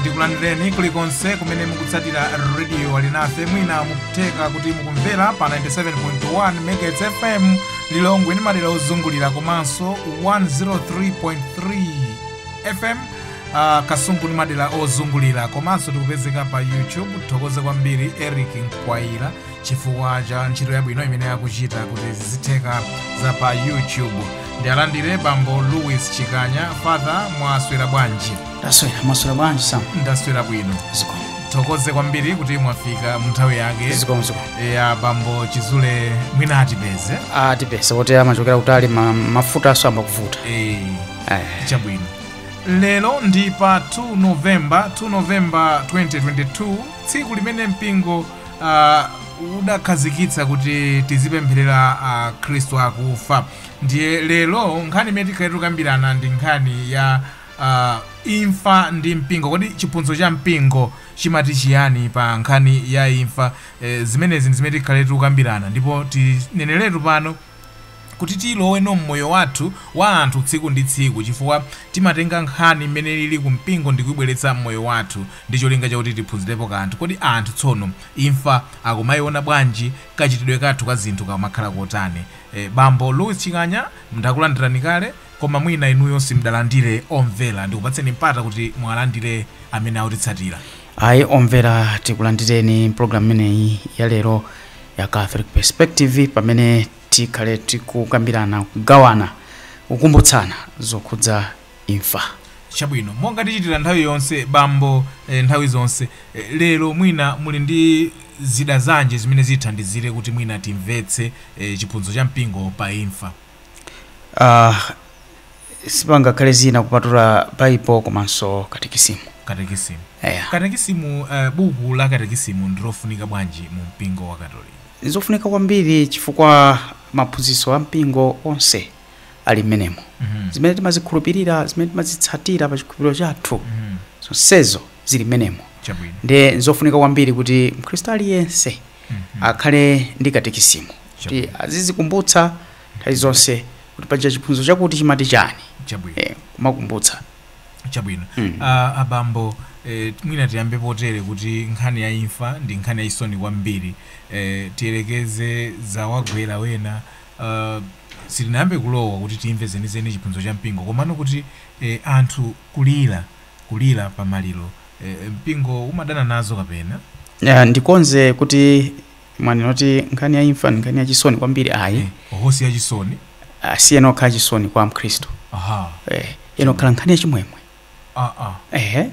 ndikulandireni kulikonse kumene mukutsatira rediyo alinafe mwina nkutheka kuti mukumvera pa 97.1 megahertz fm lilongwe ndi madera ozungulira komanso 103.3 fm uh, kasungu ndi madera ozungulira komanso tikupezeka pa youtube tithokoze kwambiri eric mkwayira chifukwa cha ntchito yabwino imene akuchita kuti zizitheka za pa youtube ndi alandire bambo louis chikanya father mwaswera bwanji taswera mwaswera bwanji sam ndaswera bwino zikomo tithokoze kwambiri kuti mwafika mu nthawi yake zikomo zikomo ya bambo chizule mwina atipeze atipeze poti amachokera kutali ma- mafuta ayamba kuvuta Eh, Ayi. chabwino Lero ndi pa 2 November, 2 November 2022, tsiku limene mpingo uh, udakhazikitsa kuti tizipempherera akhristu akufa ndiye lero nkhani imene tikhale tikukambirana ndi nkhani ya uh, imfa ndi mpingo kodi chiphunzitso cha mpingo chimati chiyani pa nkhani ya imfa eh, zimenezi ndi zimene tikhale tikukambirana ndipo tineneretu pano kuti tilowenso mmoyo wathu wa anthu tsiku ndi tsiku chifukwa timatenga nkhani mmene ilili ku mpingo ndikuibweretsa mmoyo wathu ndi cholinga chakuti tiphunzirepo kanthu. Kodi anthu tsono imfa akumaiona bwanji? Kachitidwe kathu ka zinthu kamakhala kotani? Bambo Louis Chikanya, ndakulandirani kale koma mwina inuyo simudalandire omvera. Ndikupatseni mpata kuti muwalandire amene akutitsatira. Ayi omvera tikulandireni mpologalamu imeneyi ya lero. ya catholic perspective pamene tikhale tikukambirana kugawana kukumbutsana zokhudza imfa chabwino monga tichitira nthawi yonse bambo eh, nthawi zonse eh, lero mwina muli ndi zida zanji zimene zithandizire kuti mwina timvetse eh, chiphunzitso cha mpingo pa imfa uh, sipangakhale zina kupatula baibulo komanso katekisimu katekisimu eya katekisimu uh, buku la katekisimu ndilofunika bwanji mu mpingo wa katolika nzofunika kwambiri chifukwa maphunzitso a mpingo onse ali mmenemo Mhm. zimene timazikhulupirira zimene timazitsatira pa chikhulupiriro chathu Mhm. zonsezo zili mmenemo chabwino ndi zofunika kwambiri kuti mkhristu aliyense akhale ndi katekisimu kuti Chabwino. azizikumbutsa nthawi zonse kuti paja chiphunzitso chakuti chimati chani chabwino eh, kumakumbutsa chabwino Mm. Ah, abambo eh, mwina tiyambe potere kuti nkhani ya imfa ndi nkhani yachisoni kwambiri eh, tiyerekeze zawagwera ena ah, tisanayambe kulowa kuti timve zenizeni chiphunzitso cha mpingo komano kuti eh, anthu kulira kulira pa maliro eh, mpingo umadana nazo kapena Eh, ndikonze kutii mwanena kuti nkhani ya imfa ndi nkhani yachisoni kwambiri ayi Eh, oho si yachisoni Ah, siyenera kukhala chisoni kwa mkhristu aha eh, iyenera kukhala nkhani yachimwemwe ah, ah. ehe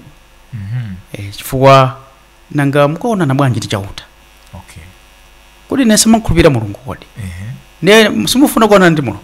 Mhm. eh, chifukwa nanga mukaonana bwanji ndi chauta okay kodi inu simumakhulupirira mulungu kodi ehe ndiye simufuna kuonana ndi mulungu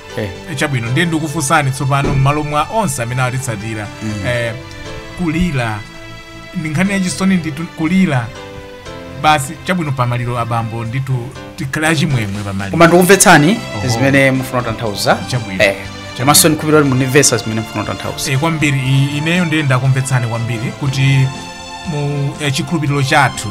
Eh. Eh, chabwino ndiye ndikufunsani tsopano m'malo mwa onse amene atitsatira eh, kulira ndi nkhani yachisoni ndithu kulira basi chabwino pamaliro abambo ndithu tikhale achimwemwe pamaliro koma ndikumvetsani Oho. zimene mufuna kutanthauza Chabwino. Eh, komanso ndikhulupirira kuti mundimvetsa zimene mufuna kutanthauza Eh, kwambiri i- ineyo ndiye ndakumvetsani kwambiri kuti mu eh, chikhulupiriro chathu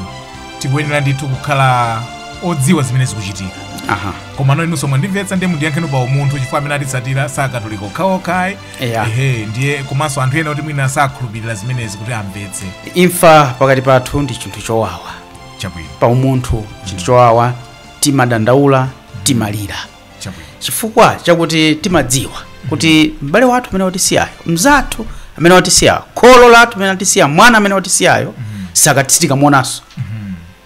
tikuyenera ndithu kukhala odziwa zimene zikuchitika aha komano inunso mwandimvetsa ndiye mundiyankheni pa umunthu chifukwa amene atitsatira si akatolika okhaokha ayi Eya. ehe ndiye komanso anthu ena kuti mwina sakhulupirira zimenezi kuti amvetse imfa pakati pathu ndi chinthu chowawa chabwino pa umunthu chinthu chowawa timadandaula timalira chabwino chifukwa chakuti timadziwa kuti m'bale wathu amene watisiyayo mzathu amene watisiyayo kholo lathu amene watisiya mwana amene watisiyayo sizatheka kumuonanso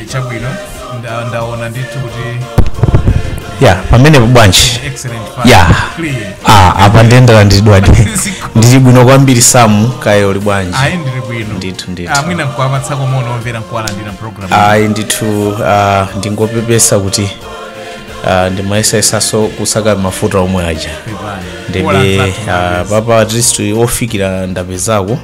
Eh, chabwino nda- ndaona ndithu kuti eya pamenepa bwanji excellent pa- ya clear ah, apa ndiye ndalandiridwadi ndili bwino kwambiri Sam kaya uli bwanji ayi ndili bwino Ndithu, ndithu. Ah, mwina nkuwapatsako moni omvera nkuwalandira mu program ayi ndithu ah, ndingopepesa kuti ah, ndimayesayesanso kusaka mafuta omwe aja Pepani. Ola ndiyebe nzathu ah, mabwezi. apapa at least ofikira ndapezako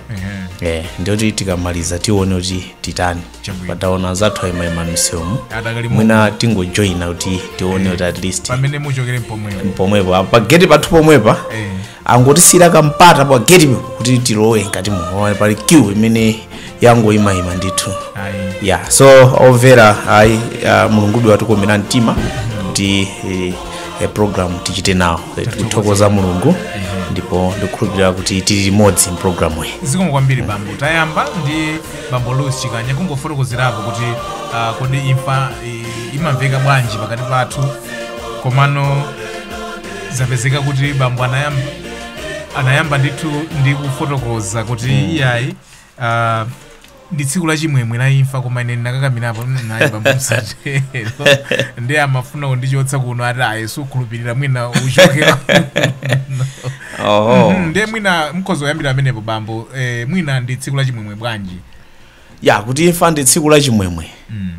Ehe. eh, ndiye kuti tikamaliza tione kuti titani chabwino taona anzathu ayimayima misewumu adakali mu- mwina tingojoyina kuti tione kuti at least pamene muchokere mpomwepo pomwepo pa geti pathu pomwepa Eh. angotisiyira kampata pa geti kuti tilowe mkati muno pali queue imene yangoyimayima ndithu ayi ya so overall ayi uh, mulungube watikomera mtima kuti eh, eh, program tichite nawo Eh, tikuthokoza mulungu ndipo ndikukhulupirira kuti tili limodzi mpulogalamu iyi zikomo kwambiri bambo tayamba ndi bambo louis chikanya kungofotokozerapo kuti ah, kodi imfa i- imamveka bwanji pakati pathu komano zapezeka kuti bambo anayamba, anayamba ndithu ndi kufotokoza kuti iyayi ah, ndi tsiku la chimwemwe la imfa koma ine ndinakakamirapo nayi bambo musatero ndiye amafuna kundichotsa kuno ati ayi sukhulupirira mwina uchoke oho Mhm, ndiye mwina mukhoza kuyambira pamenepo bambo eh, mwina ndi tsiku la chimwemwe bwanji ya kuti imfa ndi tsiku la chimwemwe Mm.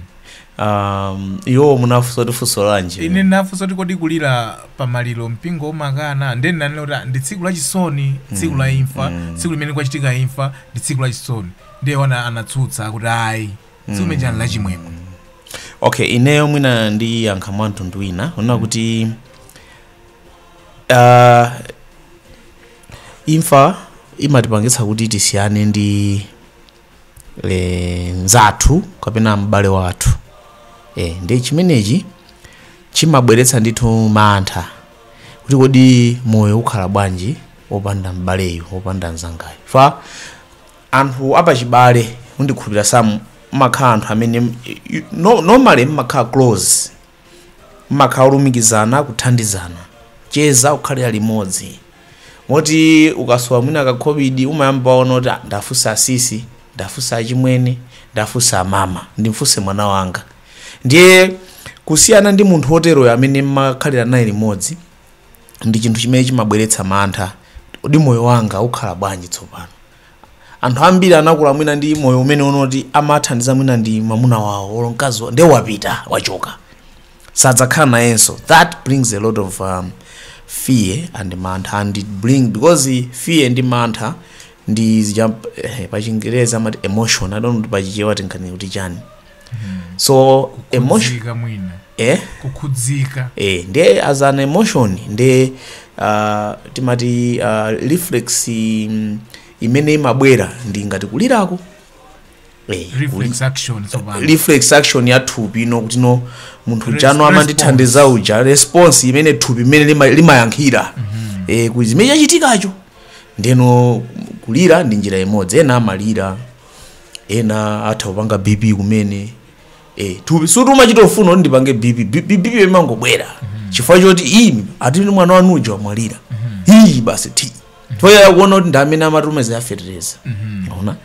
um, iwo munafunsa kuti funso lanji ine ndinafunsa kuti kodi kulira pamaliro mpingo umakana ndiye ndinanena kuti ah, ndi tsiku la chisoni tsiku la imfa tsiku limene kwachitika imfa ndi tsiku la chisoni ndiye wina anatsutsa kuti ayi tsiku limene chani la chimwemwe okay ineyo mwina ndiyankha mwa mtundu wina kunena kuti uh, imfa imatipangitsa kuti tisiyane ndi e, mzathu kapena m'bale wathu e, ndi chimenechi chimabweretsa ndithu mantha kuti kodi moyo ukhala bwanji opanda m'baleyu opanda mzangayu chifukwa anthu apachibale ndikhulupira samu amakhala anthu amene you- no- normally mmakhala close mmakhala olumikizana kuthandizana kucheza kukhalira limodzi moti ukasowa mwina kakhobidi umayamba waona kuti "Ah, ndafunsa asisi ndafunsa achimwene ndafunsa amama ndimfunse mwana wanga ndiye kusiyana ndi munthu woteroyo amene mmakhalira naye limodzi ndi chinthu chimene chimabweretsa mantha kodi moyo wanga ukhala bwanji tsopano anthu ambiri anakula mwina ndi moyo umene woti amathandizidwa mwina ndi mwamuna wawo olo mkazi wawo ndiye wapita wachoka sadzakhala nayenso that brings a lot of um, fear and mantha and it brings because fear ndi mantha ndi zijazi eh, pachingereza amati emotion i don't know kuti pachichewa tingati kuti chani so emotion kukhudzika mwina eh kukhudzika eh ndiye as an emotion ndiye uh, timati uh, reflex mm, imene imabwera ndi ngati kulirako eh, kuli- reflex action tsopano reflex action ya thupi kunena kuti no munthu Res- ujano amandithandiza uja response imene thupi imene lima- limayankhira eh, ku chimene chachitikacho ndeno kulira ndi njira imodzi ena amalira ena atha kupanga bp kumene eh, tu- sikuti umachita kufuna kuti ndipange bp B- B- bp imangobwera chifukwa choti iii atini mwana wanu uja wamwalira iyi basi chifukwa chakuona kuti ndi amene amatumiza za fetereza mwaona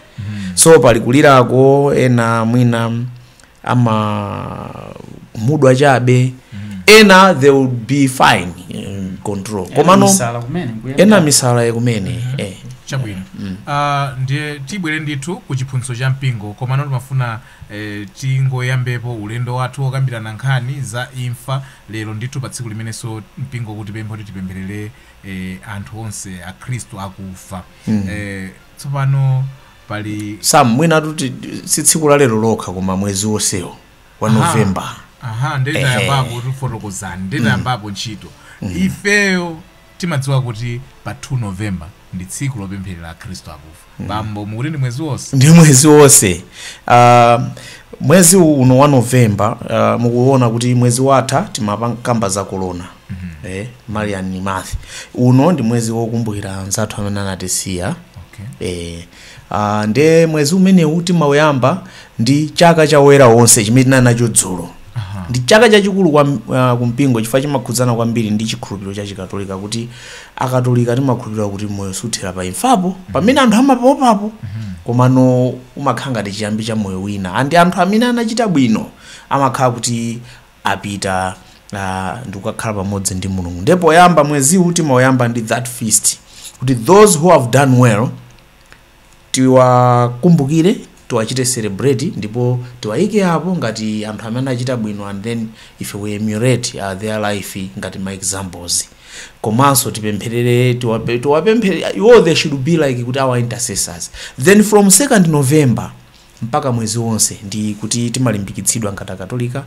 so pali kulirako ena mwina amakhumudwa chabe ena they will be fine in control komano Misala kumene mkuyenda. ena misala kumene eh. chabwino Ah, ndiye tibwere ndithu ku chiphunzitso cha mpingo komano timafuna eh, tingoyambepo ulendo wathu wokambirana nkhani za imfa lero ndithu pa tsiku limenenso mpingo ukutipempha kuti tipempherere eh, anthu onse akhristu akufa eh, Tsopano pali. Sam, mwinatu ti- si tsiku la lero lokha koma mwezi wonsewu wa Aha. november Aha, ndiye Ehe. tayambapo tifotokozani, ndiye tayambapo ntchito. Ifeyo timadziwa kuti pa 2 November ndi tsiku lopempherera Akhristu akufa. Bambo mukuti ndi mwezi wonse. ndi mwezi wonse uh, mwezi uno wa november uh, mukuona kuti mwezi watha timakamba za korona eh, marian month uno ndi mwezi wokumbukira anzathu amene anatisiya eh, ah, nde mwezi umenewu timauyamba ndi chaka cha oyera onse chimene tinali nacho dzulo ndi chaka chachikulu ku uh, kumpingo chifukwa chimakhudzana kwambiri ndi chikhulupiriro cha chikatolika kuti akatolika timakhulupirira kuti moyo suthera pa imfapo pamene anthu amapaopapo komano umakhala ngati chiyambi cha moyo wina and anthu amene anachita bwino amakhala kuti apita uh, ndikukakhala pamodzi ndi mulungu ndiye poyamba mweziwu timauyamba ndi that feast kuti those who have done well tiwakumbukire tiwachite celebrate ndipo tiwaike apo ngati anthu amene achita bwino and then if we emulate uh, their life ngati ma examples komanso tipempherere tiwape- tiwapemphe iwo they should be like kuti our intercessors then from 2nd november mpaka mwezi wonse, ndi kuti timalimbikitsidwa ngati Akatolika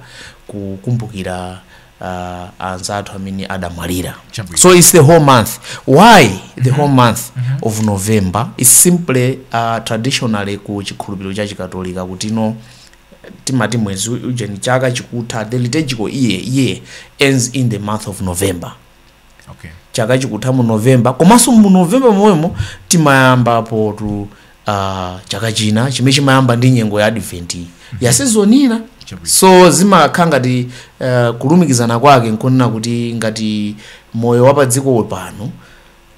kukumbukira uh, anzathu amene adamwalira. Chabwino. So it's the whole month. Why the whole month of November? It's simply uh, traditionally ku chikhulupiriro cha Chikatolika kuti no timati mwezi ujeni chaka chikutha the liturgical year year ends in the month of November. okay. chaka chikutha mu november komanso mu november momwemo timayambapo uh, chaka china chimene chimayamba ndi nyengo ya advent iyi ya season ina Chabwino. so zimakhala ngati uh, kulumikizana kwake nkunena kuti ngati moyo wa padziko pano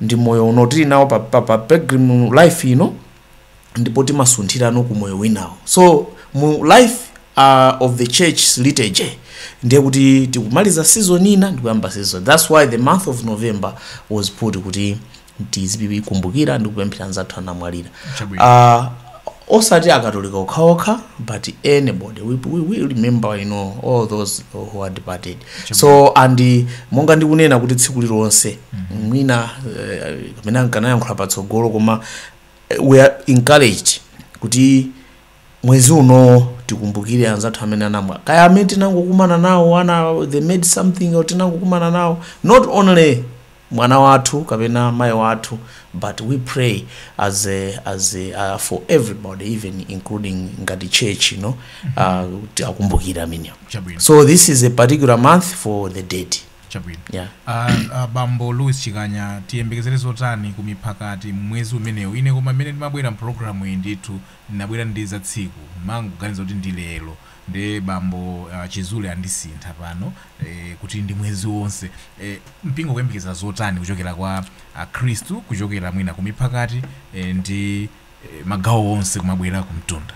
ndi moyo uno tili nawo pa, pa, pa pilgrim life ino ndipo timasunthira no ku moyo winawo so mu life uh, of the church liturgy ndiye kuti tikumaliza season ina ndikuyamba season ina that's why the month of november was put kuti tizikumbukira ndi kupempherera anzathu anamwalira Chabwino. uh, osati akatolika okhaokha but anybody we, we, we remember you know all those who are departed so and uh, monga ndikunena kuti tsiku lilonse mwina eh, kapena nkanayankhula patsogolo koma we are encouraged kuti mwezi uno tikumbukire anzathu amene anamwalira kaya amene tinangokumana nawo ana they made something or tinangokumana nawo not only mwana wathu kapena mayi wathu but we pray as a, as a, uh, for everybody even including ngati church you know uh, kuti akumbukire amenewo chabwino so this is a particular month for the dead Chabwino. Yeah. A, a bambo Louis Chikanya tiyembekezere zotani ku miphakati m'mwezi umenewu? Ine koma mmene ndimabwera m'programu iyi ndithu ndinabwera ndi za tsiku. Ndimangoganiza kuti ndi lero. Nde bambo ah, Chisule andisintha pano eh, kuti ndi mwezi wonse. Eh, mpingo kuyembekeza zotani kuchokera kwa Akhristu kuchokera mwina ku miphakati eh, ndi eh, magawo onse kumabwera kumtunda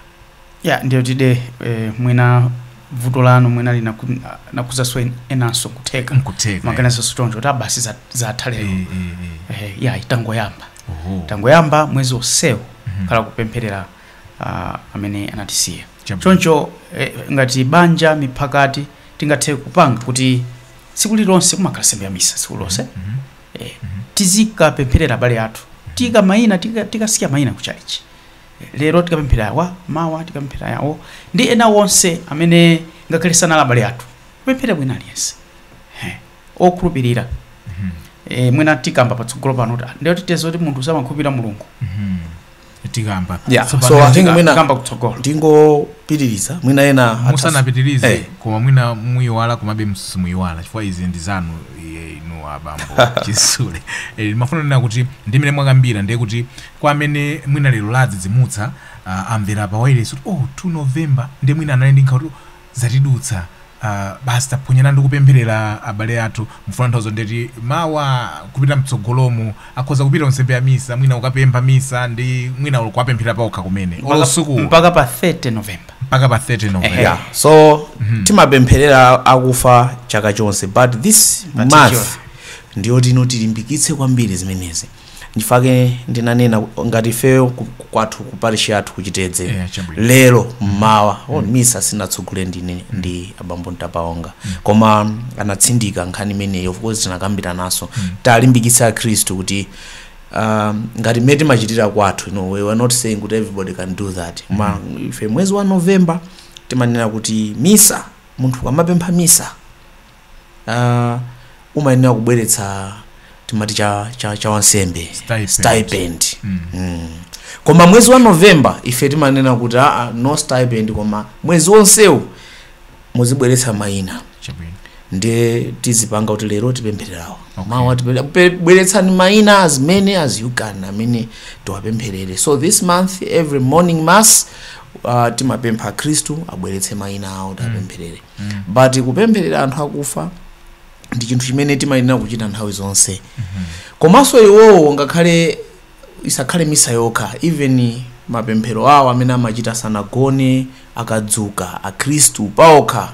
ya ndiye kuti eh, mwina vuto lanu mwina linaku- linakhudzanso en- enanso kutheka nkutheka maganizo choncho kuti a basi za- zatha lero Eh, eh, eh. Eh, ayi tangoyamba Oho. tangoyamba mwezi onsewu Mhm. khala kupempherera ah, amene anatisiya Chabwino. choncho eh, ngati banja miphakati tingathe kupanga kuti tsiku lilonse kumakhala nsembe ya misa tsiku lililonse Mhm. eh, tizikapempherera abale athu tika- maina tika- tikasiya maina ku tchalitchi lero tikapemphera awa mawa tikapemphera yawo ndi ena onse amene ngakhale sanali abale athu kupempherera wina aliyense Eh, okhulupirira eh, mwina tikamba patsogolo pano kuti ah, ndiye tidziwa bwanji kuti munthu samakhulupirira mulungu tikamba Yeah, Tsopano so I think tika- mwina- kamba kutsogolo ndingopitiriza mwina ena atha- musanapitirize Eh, koma mwina muyiwala komabe simuyiwala chifukwa izi ndi zanu izi inu abambo chisule Eh, ndimafuna kunena kuti ndi mmene mwakambira ndiye kuti kwa amene mwina lero ladzidzimutsa ah, amvera pa wailesi kuti oh 2 november ndiye mwina anali ndi nkhawa kuti zatidutsa basi taphonyana ndi kupempherera abale athu mufuna kutanthauza ndiye kuti mawa kupita mtsogolomu akhoza kupita kunsembe ya misa mwina kukapempha misa ndi mwina olo kuwapempherera paokha kumene olo Mpaka- mpaka pa 30 november mpaka pa 30 november yeah. so timapempherera akufa chaka chonse but this Particular. month ndiyoti uno tilimbikitse kwambiri zimenezi nchifukwa chake ndinanena ku- ngati ifeyo ku- ku- kwathu ku parish yathu kuchitedze Yeah, chabwino. lero mmawa oh, misa sindinatsogolere ndine ndi abambo ntapaonga koma anatsindika nkhani imeneyo of course tinakambiranaso tiwalimbikitse akhristu kuti um, ngati mmene timachitira kwathu no, we were not saying kuti everybody can do that koma ife mwezi wa november timanena kuti misa munthu akamapempha misa uh, umayenera kubweretsa timati cha, cha, cha wansembe stipend mm. koma mwezi wa november ife timanena kuti aa no stipend koma mwezi wonsewu muzibweretsa mayina chabwino ndiye tizipanga kuti lero tipemphererawo Okay. mawa tipemphera- pe- bweretsani mayina as many as you can amene tiwapempherere so this month every morning mass uh, timapempha akhristu abweretse mayina awo tiwapempherere but kupempherera anthu akufa ndi chinthu chimene timayenera kuchita nthawi zonse komanso iwowo ngakhale isakhale misa yokha even mapemphero awo amene amachita sanagone akadzuka akhristu paokha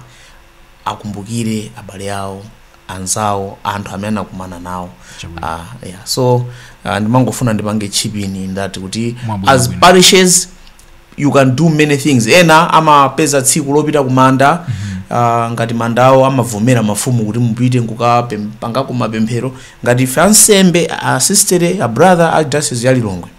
akumbukire abale awo anzawo anthu amene anakumana nawo Chabwino. Ah, yeah. so uh, ndimangofuna ndipange chip in ndati kuti as parishes you can do many things ena amapeza tsiku lopita kumanda uh, ngati mandawo amavomera mafumu kuti mupite nkukapangako mapemphero ngati ife ansembe asistere abrother a diocese ya lilongwe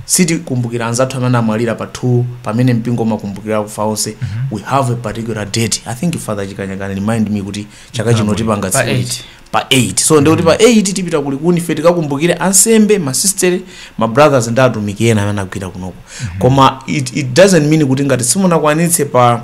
sitikumbukira anzathu amene anamwalira pa 2 pamene mpingo umakumbukira akufa onse we have a particular date i think father chikanyakana remind me kuti chaka chino tipanga tsiku liti. pa 8 so ndikuti pa 8 tipita ku likuni ife tikakumbukire ansembe masistere ma brothers ndi atumiki ena amene anagwira kunoko koma it, it doesn't mean kuti ngati simunakwanitse pa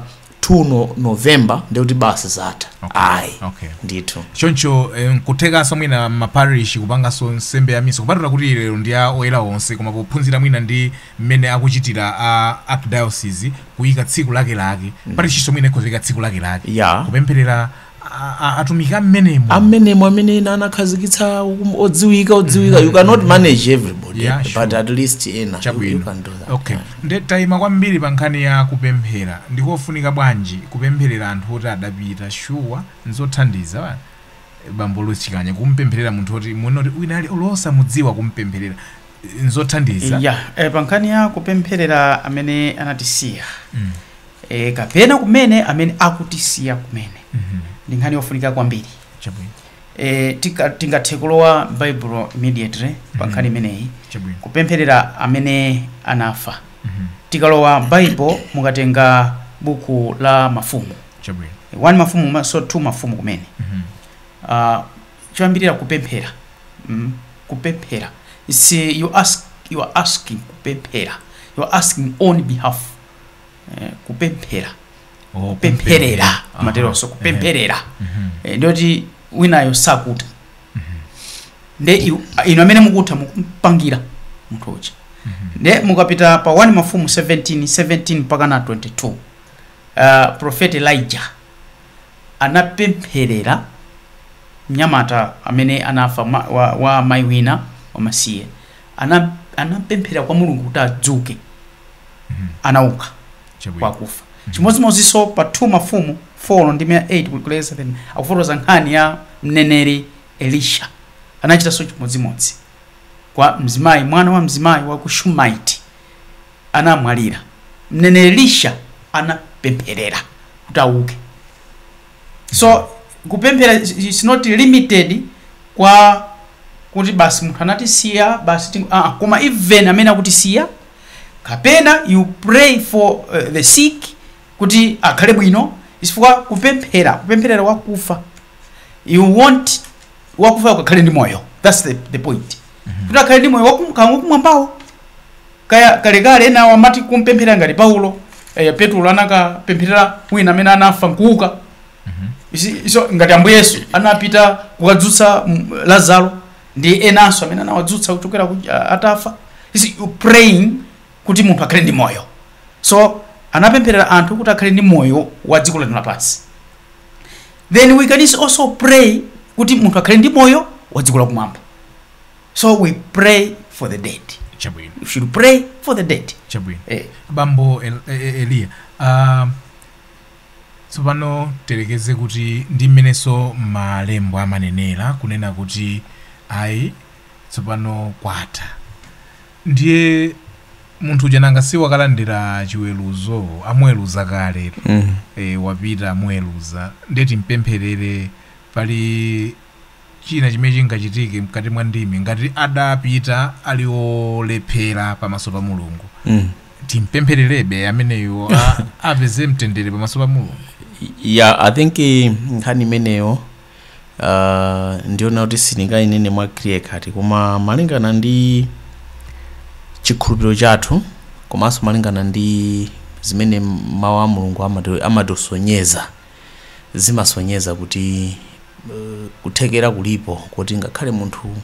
2 no, november ndikuti basi zatha Okay, ayi okay. ndithu choncho eh, nkuthekanso mwina mmaparish kupanganso nsembe ya misa kupatula kuti lero ndi a oyera onse koma pophunzira mwina ndi mmene akuchitira a archdiocese kuyika tsiku lakelake parishinso mwina ikhoza kuyika tsiku lakelake Yeah. kupempherera atumiki a mmenemo a mmenemo amene ena anakhazikitsa um- odziwika odziwika you cannot manage everybody Yeah, sure. but at least ena you- you chabwino can do that okay nde tayima kwambiri pa nkhani ya kupemphera ndikofunika bwanji kupempherera anthu oti adapita shuwa nzothandiza wa- bambo losikanya kumpempherera munthu oti mwina kuti wina ali olo osamudziwa kumpempherera nzothandiza ya eh, pa nkhani ya kupempherera amene anatisiya Mm. e, kapena kumene amene akutisiya kumene Mhm. ndi nkhani yofunika kwambiri Chabwino. e, tika- tingathe kulowa baibulo immediately pa nkhani Mhm. imeneyi Chabwino. kupempherera amene anafa Mhm. tikalowa baibulo mukatenga buku la mafumu Chabwino. 1 mafumu ma- so 2 mafumu kumene Mhm. uh, choyambirira kupemphera mm, kupemphera It's, uh, you ask you are asking kupemphera you are asking on behalf eh, kupemphera Oh, kupempherera Aha. amaterotu kupempherera Mhm. Eh, ndiyoti winayo sakuta nde iw- a- inu amene mukutha mukumupangira munthu uja nde mukapita pa 1 mafumu 17 17 mpaka na 22 uh, profeti elijah anapempherera mnyamata amene anafa ma, wa, wa mayi wina wamasiye ana anapempherera kwa mulungu kuti adzuke anauka Chabwino. kwakufa chimodzimodzinso pa 2 mafumu 4 ndi 8 kufikira 7 akufotokoza nkhani ya mneneri elisha anachitanso chimodzimodzi kwa mzimayi mwana wa mzimayi wa ku shumaiti anamwalira mneneri elisha anapempherera kuti auke so kupemphera is- is not limited kwa kuti basi munthu anatisiya basi ting- ah, ah, koma even amene akutisiya kapena you pray for uh, the sick kuti akhale bwino chifukwa kupemphera kupempherera wakufa you want wakufa akakhale ndi moyo thats the, the point kuti akhale ndi moyo wakumwambawo Kaya kalekale enawo amati kumpempherera ngati Paulo eh, Petulo anakapempherera wina amene anafa nkuuka Isi- iso ngati ambuye yesu anapita kukadzutsa mm, lazaro ndi enanso amene anawadzutsa kuchokera ku- a- atafa Isi- you praying kuti munthu akhale ndi moyo so anapempherera anthu kuti akhale ndi moyo wa dziko lino lapansi then we can also pray kuti munthu akhale ndi moyo wa dziko lakumwamba so we pray for the dead chabwino you should pray for the dead chabwino eh. bambo El- E- E- eliya ah, tsopano tiyerekeze kuti ndi mmenenso malembo amanenera kunena kuti ayi tsopano kwatha ndiye munthu uja nanga si wakalandira chiweruzo amuweruza kale mm. e, wapita amuweruza ndiye timpempherere pali china chimene chingachitike mkati mwa ndimi ngati adapita ali olephera pamaso pa mulungu mm. timpemphererebe ameneyo a- apeze mtendere pamaso pa mulungu yeah i think eh, nkhani imeneyo uh, ndiona kuti sindingayinene mwa clear cut koma malingana ndi chikhulupiriro chathu komanso malingana ndi zimene mawu a mulungu amati- amatisonyeza zimasonyeza kuti kuthekera kulipo kuti ngakhale munthu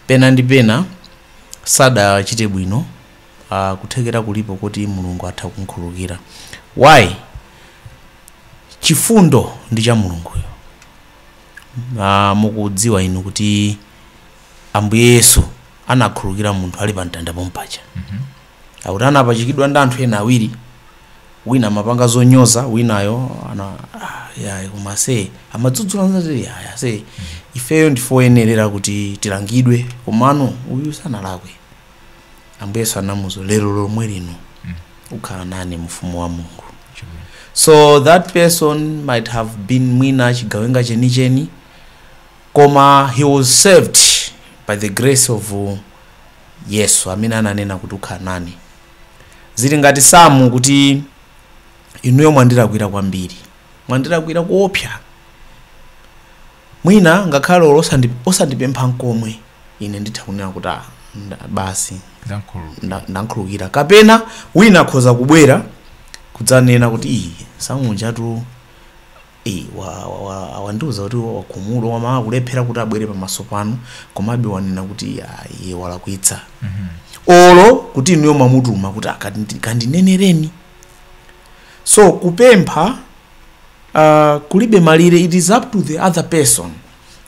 pena ndi pena sadachite bwino uh, kuthekera kulipo kuti mulungu atha kumkhululukira why chifundo ndi cha mulunguyo uh, mukudziwa inu kuti ambuye yesu anakhululukira munthu ali pa mtanda pompaja akuti anapachikidwa ndi anthu ena awiri wina amapanga zonyoza winayo ana ah, ya koma amadzudzula mnzake ya ya se ifeyo ndifoyenerera kuti tilangidwe komano uyu sanalakwe ambuye Yesu anamuuza lero lomwe lino ukhala nane mu ufumu wa mulungu so that person might have been mwina chigawenga chenicheni koma he was saved by the grace of uh, Yesu amene ananena kuti ukhala nane. Zili ngati Samu kuti inuyo mwandilakwira kwambiri, mwandilakwira kuopsa. Mwina ngakhale olo osandi- osandipempha nkomwe, ine nditha kunena kuti "Ah, nda- basi ndamkhulu- nda- ndamkhululukira kapena wina akhoza kubwera kudzanena kuti iyi samunjatu Eee wa wa wa awandiuza kuti wakhumudwa koma akulephera kuti abwere pamaso panu komabe wanena kuti ayi iye walakwitsa olo kuti inuyo mwamutuma kuti akandi- kandinenereni so kupempha uh, kulibe malire it is up to the other person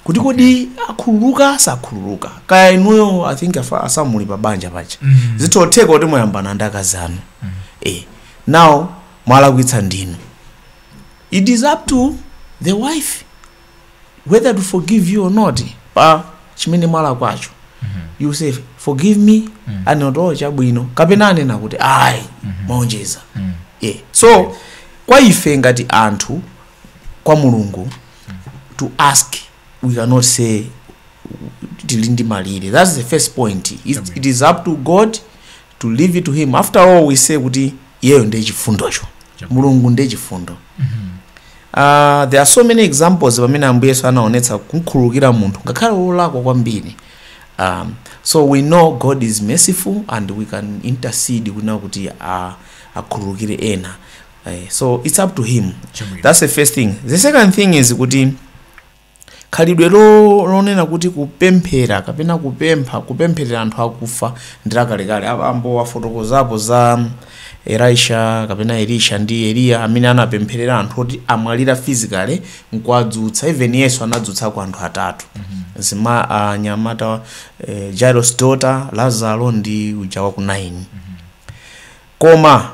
kuti kodi akhululuka sakhululuka kaya inuyo i think afa- a Samu muli pabanja paja Mhm. zitotheka kuti mwayambana ndi akazi anu eh now mwalakwitsa ndinu it is up to the wife whether to forgive you or not pa chimene mwalakwacho you say forgive me anena kuti chabwino kapena anena kuti ayi mwaonjeza yeah. so kwa ife ngati anthu kwa mulungu to ask we cannot say tili ndi malire that's the first point it, it is up to god to leave it to him after all we say kuti iyeyo ndiye chifundocho mulungu ndiye chifundo uh, there are so many examples pamene ambuye yesu anaonetsa kumkhululukira munthu ngakhale wolakwa kwambiri um, so we know god is merciful and we can intercede kunena kuti uh, akhululukire ena uh, so it's up to him Chabwino. that's the first thing the second thing is kuti Khalidwe lonena kuti kupemphera kapena kupempha, kupempherera anthu akufa ndi lakalekale. Abambo afotokozapo za Elisha kapena Elisha ndi Eliya amene anapempherera anthu oti amwalira physically n'kuwadzutsa. Even Yesu anadzutsako anthu atatu. Mzima anyamata eh, Jairus daughter, Lazaro ndi uja wa ku Naini. Koma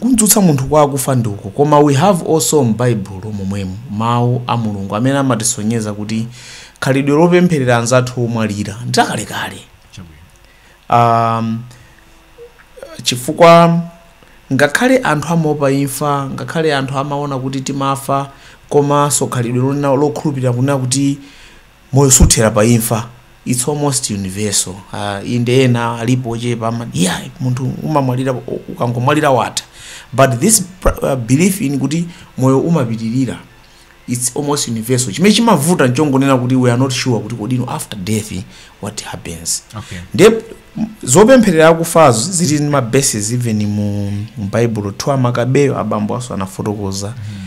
Kudzutsa munthu kwa akufa ndi uko, koma we have also m'Baibulo momwemu Mawu a Mulungu amene amatisonyeza kuti khalidwe lopempherera anzathu omwalira ndi lakalekale. Um, chifukwa ngakhale anthu amaopa imfa, ngakhale anthu amaona kuti timafa, komanso khalidwe lonena lokhulupirira kunena kuti Moyo suthera pa imfa. It's almost universal. Uh, inde ena alipo ochepa ama yeah, munthu ukamwalira ukangomwalira watha but this uh, belief in kuti moyo umapitirira it's almost universal chimene chimavuta nchongonena kuti we are not sure kuti kodi after death what happens okay. nde zopempherera akufazo zili ndi mabases even mu baibulo 2 makabeyo abambo aSoko anafotokoza mm -hmm.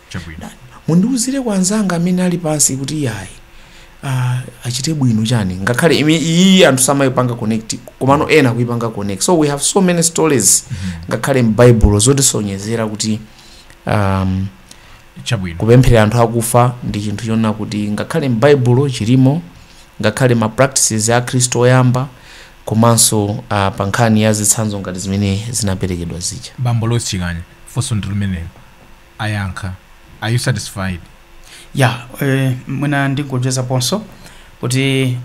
Chabwino. Mundiuzire kwa anzanga amene ali pansi kuti iyayi ah, achite bwino chani ngakhale imi- iyi anthu samayipanga connect komano ena akuyipanga connect so we have so many stories ngakhale m'baibulo zotisonyezera kuti um, Chabwino. kupempherera anthu akufa ndi chinthu chonena kuti ngakhale m'baibulo chilimo ngakhale ma practices a khristu oyamba komanso uh, pa nkhani ya zitsanzo ngati zimene zinaperekedwa zija Bambo Lois Chikanya. Funso ndi limenelo. ayankha are you satisfied ya eh, mwina ndingoonjezaponso kuti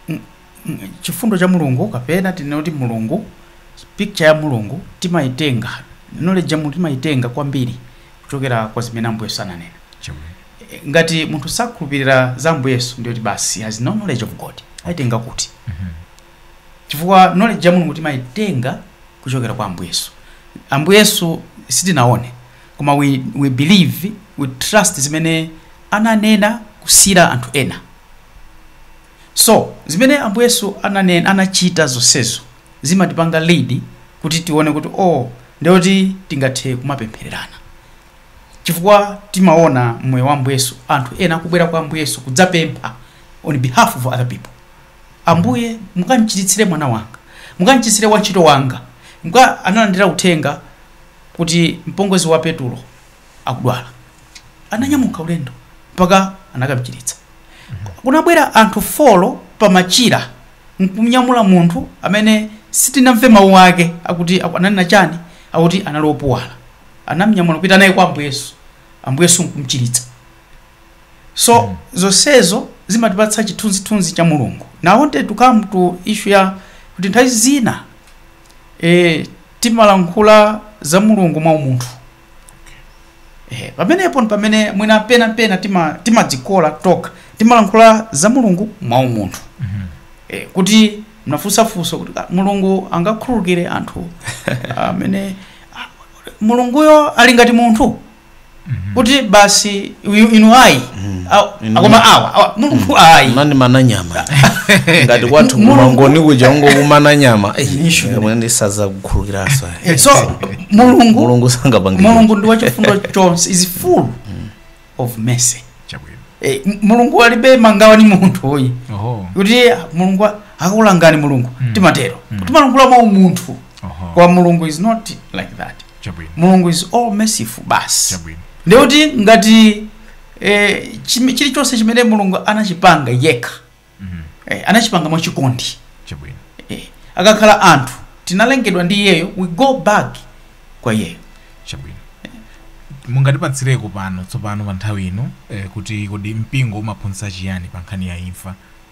mm, mm, chifundo cha mulungu kapena tinene kuti mulungu picture ya mulungu timayitenga knowledge ya mulungu timayitenga kwambiri kuchokera kwa zimene ambuye yesu ananena Chomwe. Eh, ngati munthu sakhulupirira za ambuye yesu ndiye kuti basi has no knowledge of god ayitenga kuti Mhm. chifukwa knowledge ya mulungu timayitenga kuchokera kwa ambuye yesu ambuye yesu sitinaone koma we, we believe we trust zimene ananena kusiira anthu ena so zimene ambuye yesu ananena anachita zonsezo zimatipanga lead kuti tione kuti oh ndiye kuti tingathe kumapemphererana chifukwa timaona mmoyo wa ambuye yesu anthu ena akubwera kwa ambuye yesu kudzapempha on behalf of other people Ambuye, mukamchiritsire mwana wanga, mukamchiritsire wantchito wanga. Analandira uthenga kuti mpongozi wa Petulo akudwala, ananyamuka ulendo mpaka anakamchiritsa. Kunabwera anthu folo pamachira nkumnyamula munthu amene sitinamve mawu ake akuti aku- ananena chani, akuti anali opuwala. Anamnyamula kupita naye kwa Ambuye Yesu, Ambuye Yesu nkumchiritsa. so mm. zonsezo zimatipatsa chithunzithunzi cha mulungu and I wanted to come to issue ya kuti nthawi zina e, timalankhula za mulungu mwa umunthu e, pamenepo ndi pamene mwina pena pena tima- timadzikola tokha timalankhula za mulungu mwa umunthu e, kuti mnafunsa funso kuti "Ah, mulungu angakhululukire anthu amene ah, mulunguyo ali ngati munthu kuti basi uyu- inu ayi a- akoma awa awa mulungu ayi nani mana nyama ngati kwathu Mulungu- kumangoni kuja ungokumana nyama Issue. ndi zosakhululukiranso so mulungu mulungu sangapange mulungu ndi wachifundo chonse is full of mercy chabwino Eh, m- mulungu alibe mangawa ni munthu uyi oho kuti mulungu a- akulangani mulungu timatero timalankhula mwa umunthu oho kwa mulungu is not like that chabwino mulungu is all merciful basi chabwino ndiye kuti ngati eh, chim- chilichonse chimene mulungu anachipanga yekha Mhm. eh, anachipanga mwachikondi chabwino eh, akakhala anthu tinalengedwa ndi iyeyo we go back kwa iyeyo chabwino mungatipatsireko pano tsopano pa nthawi ino eh, kuti kodi mpingo umaphunzitsa chiyani pa nkhani ya imfa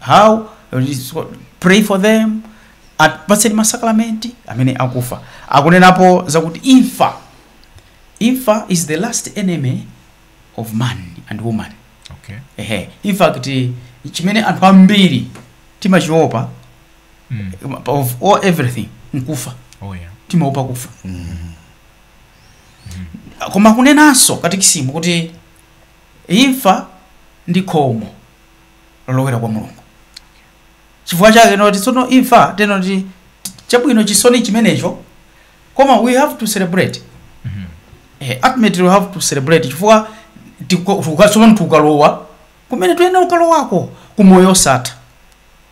how pray for them apatseni masakramenti amene akufa akunenapo zakuti imfa imfa is the last enemy of man and woman okay ehe in fact chimene anthu ambiri timachiopa mm. of all everything nkufa oh yeah timaopa kufa koma ikunenanso katikisimu kuti imfa ndi khomo lolowera kwa mulungu chifukwa chake n'choti tsono imfa teno ti chabwino chisoni chimenecho koma we have to celebrate eh, ultimately we have to celebrate chifukwa tiko- tuka- tsopano tikalowa kumene tuyenera kukalowako ku moyo osatha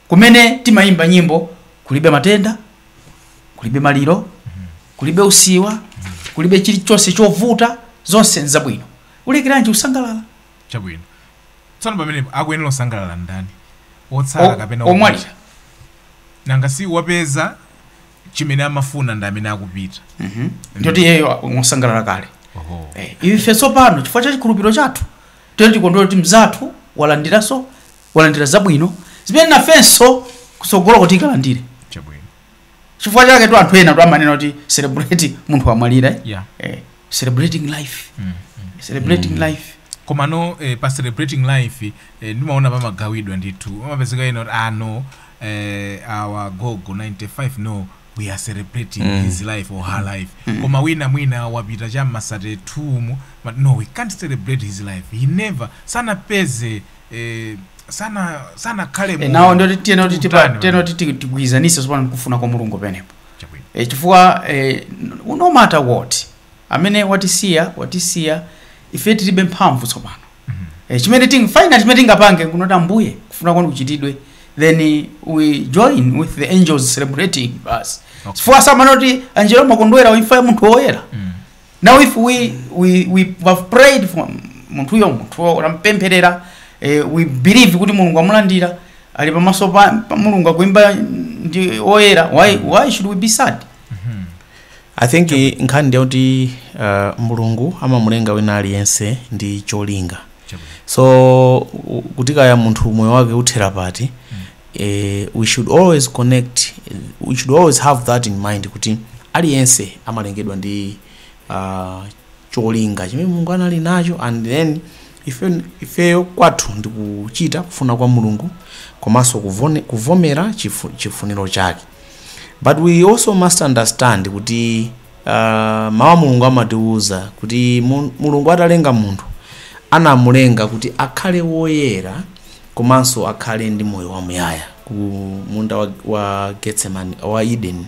kumene timayimba nyimbo kulibe matenda kulibe maliro kulibe usiwa kulibe chilichonse chovuta zonse nzabwino ulekeranji kusangalala chabwino Tsono pamenepo akuyenera kusangalala ndani, otsala O- kapena omwalira? omwalira? Nanga si wapeza chimene amafuna ndi amene akupita. ndiye kuti iyeyo akusangalala kale Oho. Eh, ife tsopano chifukwa cha chikhulupiriro chathu tiyeni tikondwere kuti mzathu walandiranso walandira zabwino zimene nafenso kutsogoloku tikalandire Chabwino. chifukwa chaketu anthu enatu amanena kuti celebrate munthu wamwalira eh? yeah. eh, celebrating life mm. celebrating mm. life komano eh, pa celebrating life eh, ndimaona pamagawidwa ndithu amapezeka ena kuti ah no eh, our gogo 95 no we are celebrating mm. his life or her life mm. koma wina mwina wapita cha m'ma 32 mu but no we can't celebrate his life he never sanapeze eh, sana sanakhale mu- nawo ndiye kuti tiyenera kuti tipa- mtani tiyenera kuti ti- tigwirizanise tsopano nkufuna kwa mulungu pamenepo Chabwino. e, chifukwa e, no matter what amene watisiya watisiya ife tilibe mphamvu tsopano e, chimene ting final chimene tingapange kunena kuti ambuye kufuna kwanu kuchitidwe then we join with the angels celebrating basi Okay. chifukwa amanena kuti anjelo amakondwera pa imfa ya munthu woyera Mm. now if we, we, we have prayed for munthuyo munthu uyo tampempherera eh, we believe kuti mulungu amulandira ali pamaso pa, pa mulungu akuimba ndi oyera why, why should we be sad i think eh, nkhani ndiyoti uh, mulungu amamulenga wina aliyense ndi cholinga so u- kuti kaya munthu moyo wake uthera pati eh, we should always connect we should always have that in mind kuti aliyense amalengedwa ndi uh, cholinga chimene mulungu anali nacho and then ife- ifeyo kwathu ndi kuchita kufuna kwa mulungu komanso kuvone- kuvomera chifu- chifuniro chake but we also must understand kuti Uh, mawu a mulungu amatiwuza kuti mu- mulungu atalenga munthu anamulenga kuti akhale woyera komanso akhale ndi moyo wamuyaya ku munda wa, wa getsemani wa eden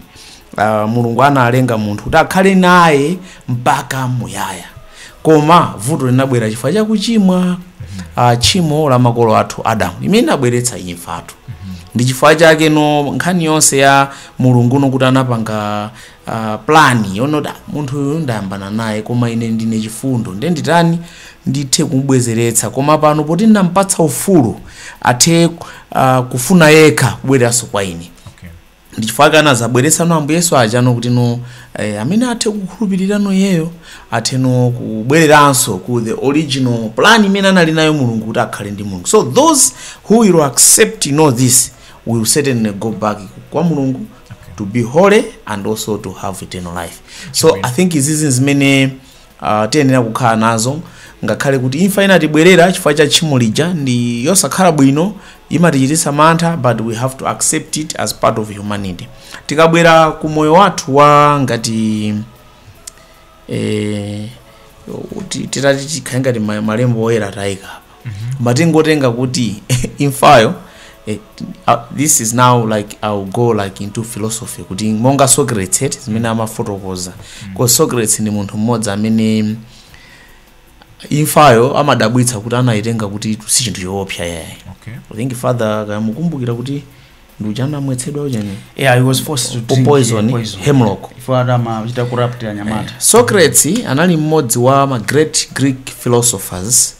uh, mulungu analenga munthu kuti akhale naye mpaka muyaya koma vuto linabwera chifukwa cha kuchimwa uh, tchimo la makolo athu adamu limene linabweretsa imfa ndi chifukwa chake no nkhani yonse ya mulungu no kuti anapanga uh, plan yoona kuti "Ah, munthu uyu ndayambana naye koma ine ndine chifundo nde nditani ndithe kumubwezeretsa koma pano poti ndampatsa ufulu athe uh, kufuna yekha kubwereranso kwa ine okay. ndi chifukwa chake anadzabweretsa no ambuye yesu aja no kuti no eh, amene athe kukhulupirira no iyeyo athe no kubwereranso ku the original plan imene anali nayo mulungu kuti akhale ndi mulungu so those who will accept you know this will certainly go back kwa mulungu okay. to be holy and also to have eternal life so Amen. i think ndi zizi zimene uh, tiyenera kukhala nazo ngakhale kuti imfa inatibwerera chifukwa cha tchimo lija ndi yosakhala bwino imatichititsa mantha but we have to accept it as part of humanity tikabwera ku moyo wathu wa ngati eh, ti- titati tikhale ngati ma- malembo oyera tayika apa koma tingotenga kuti imfayo eh, uh, this is now like ill go like into philosophy kuti monga socrates eti zimene amafotokoza because socrates ndi munthu mmodzi amene imfayo amadabwitsa kuti anayitenga kuti si chinthu choopsa yayi okay i think father mukukumbukira kuti ndi uja anamwetsedwa uchani yeah he was forced to drink Poison, yeah, poison. hemlock. ati amachita corrupt achinyamata socrates anali mmodzi wa ma great greek philosophers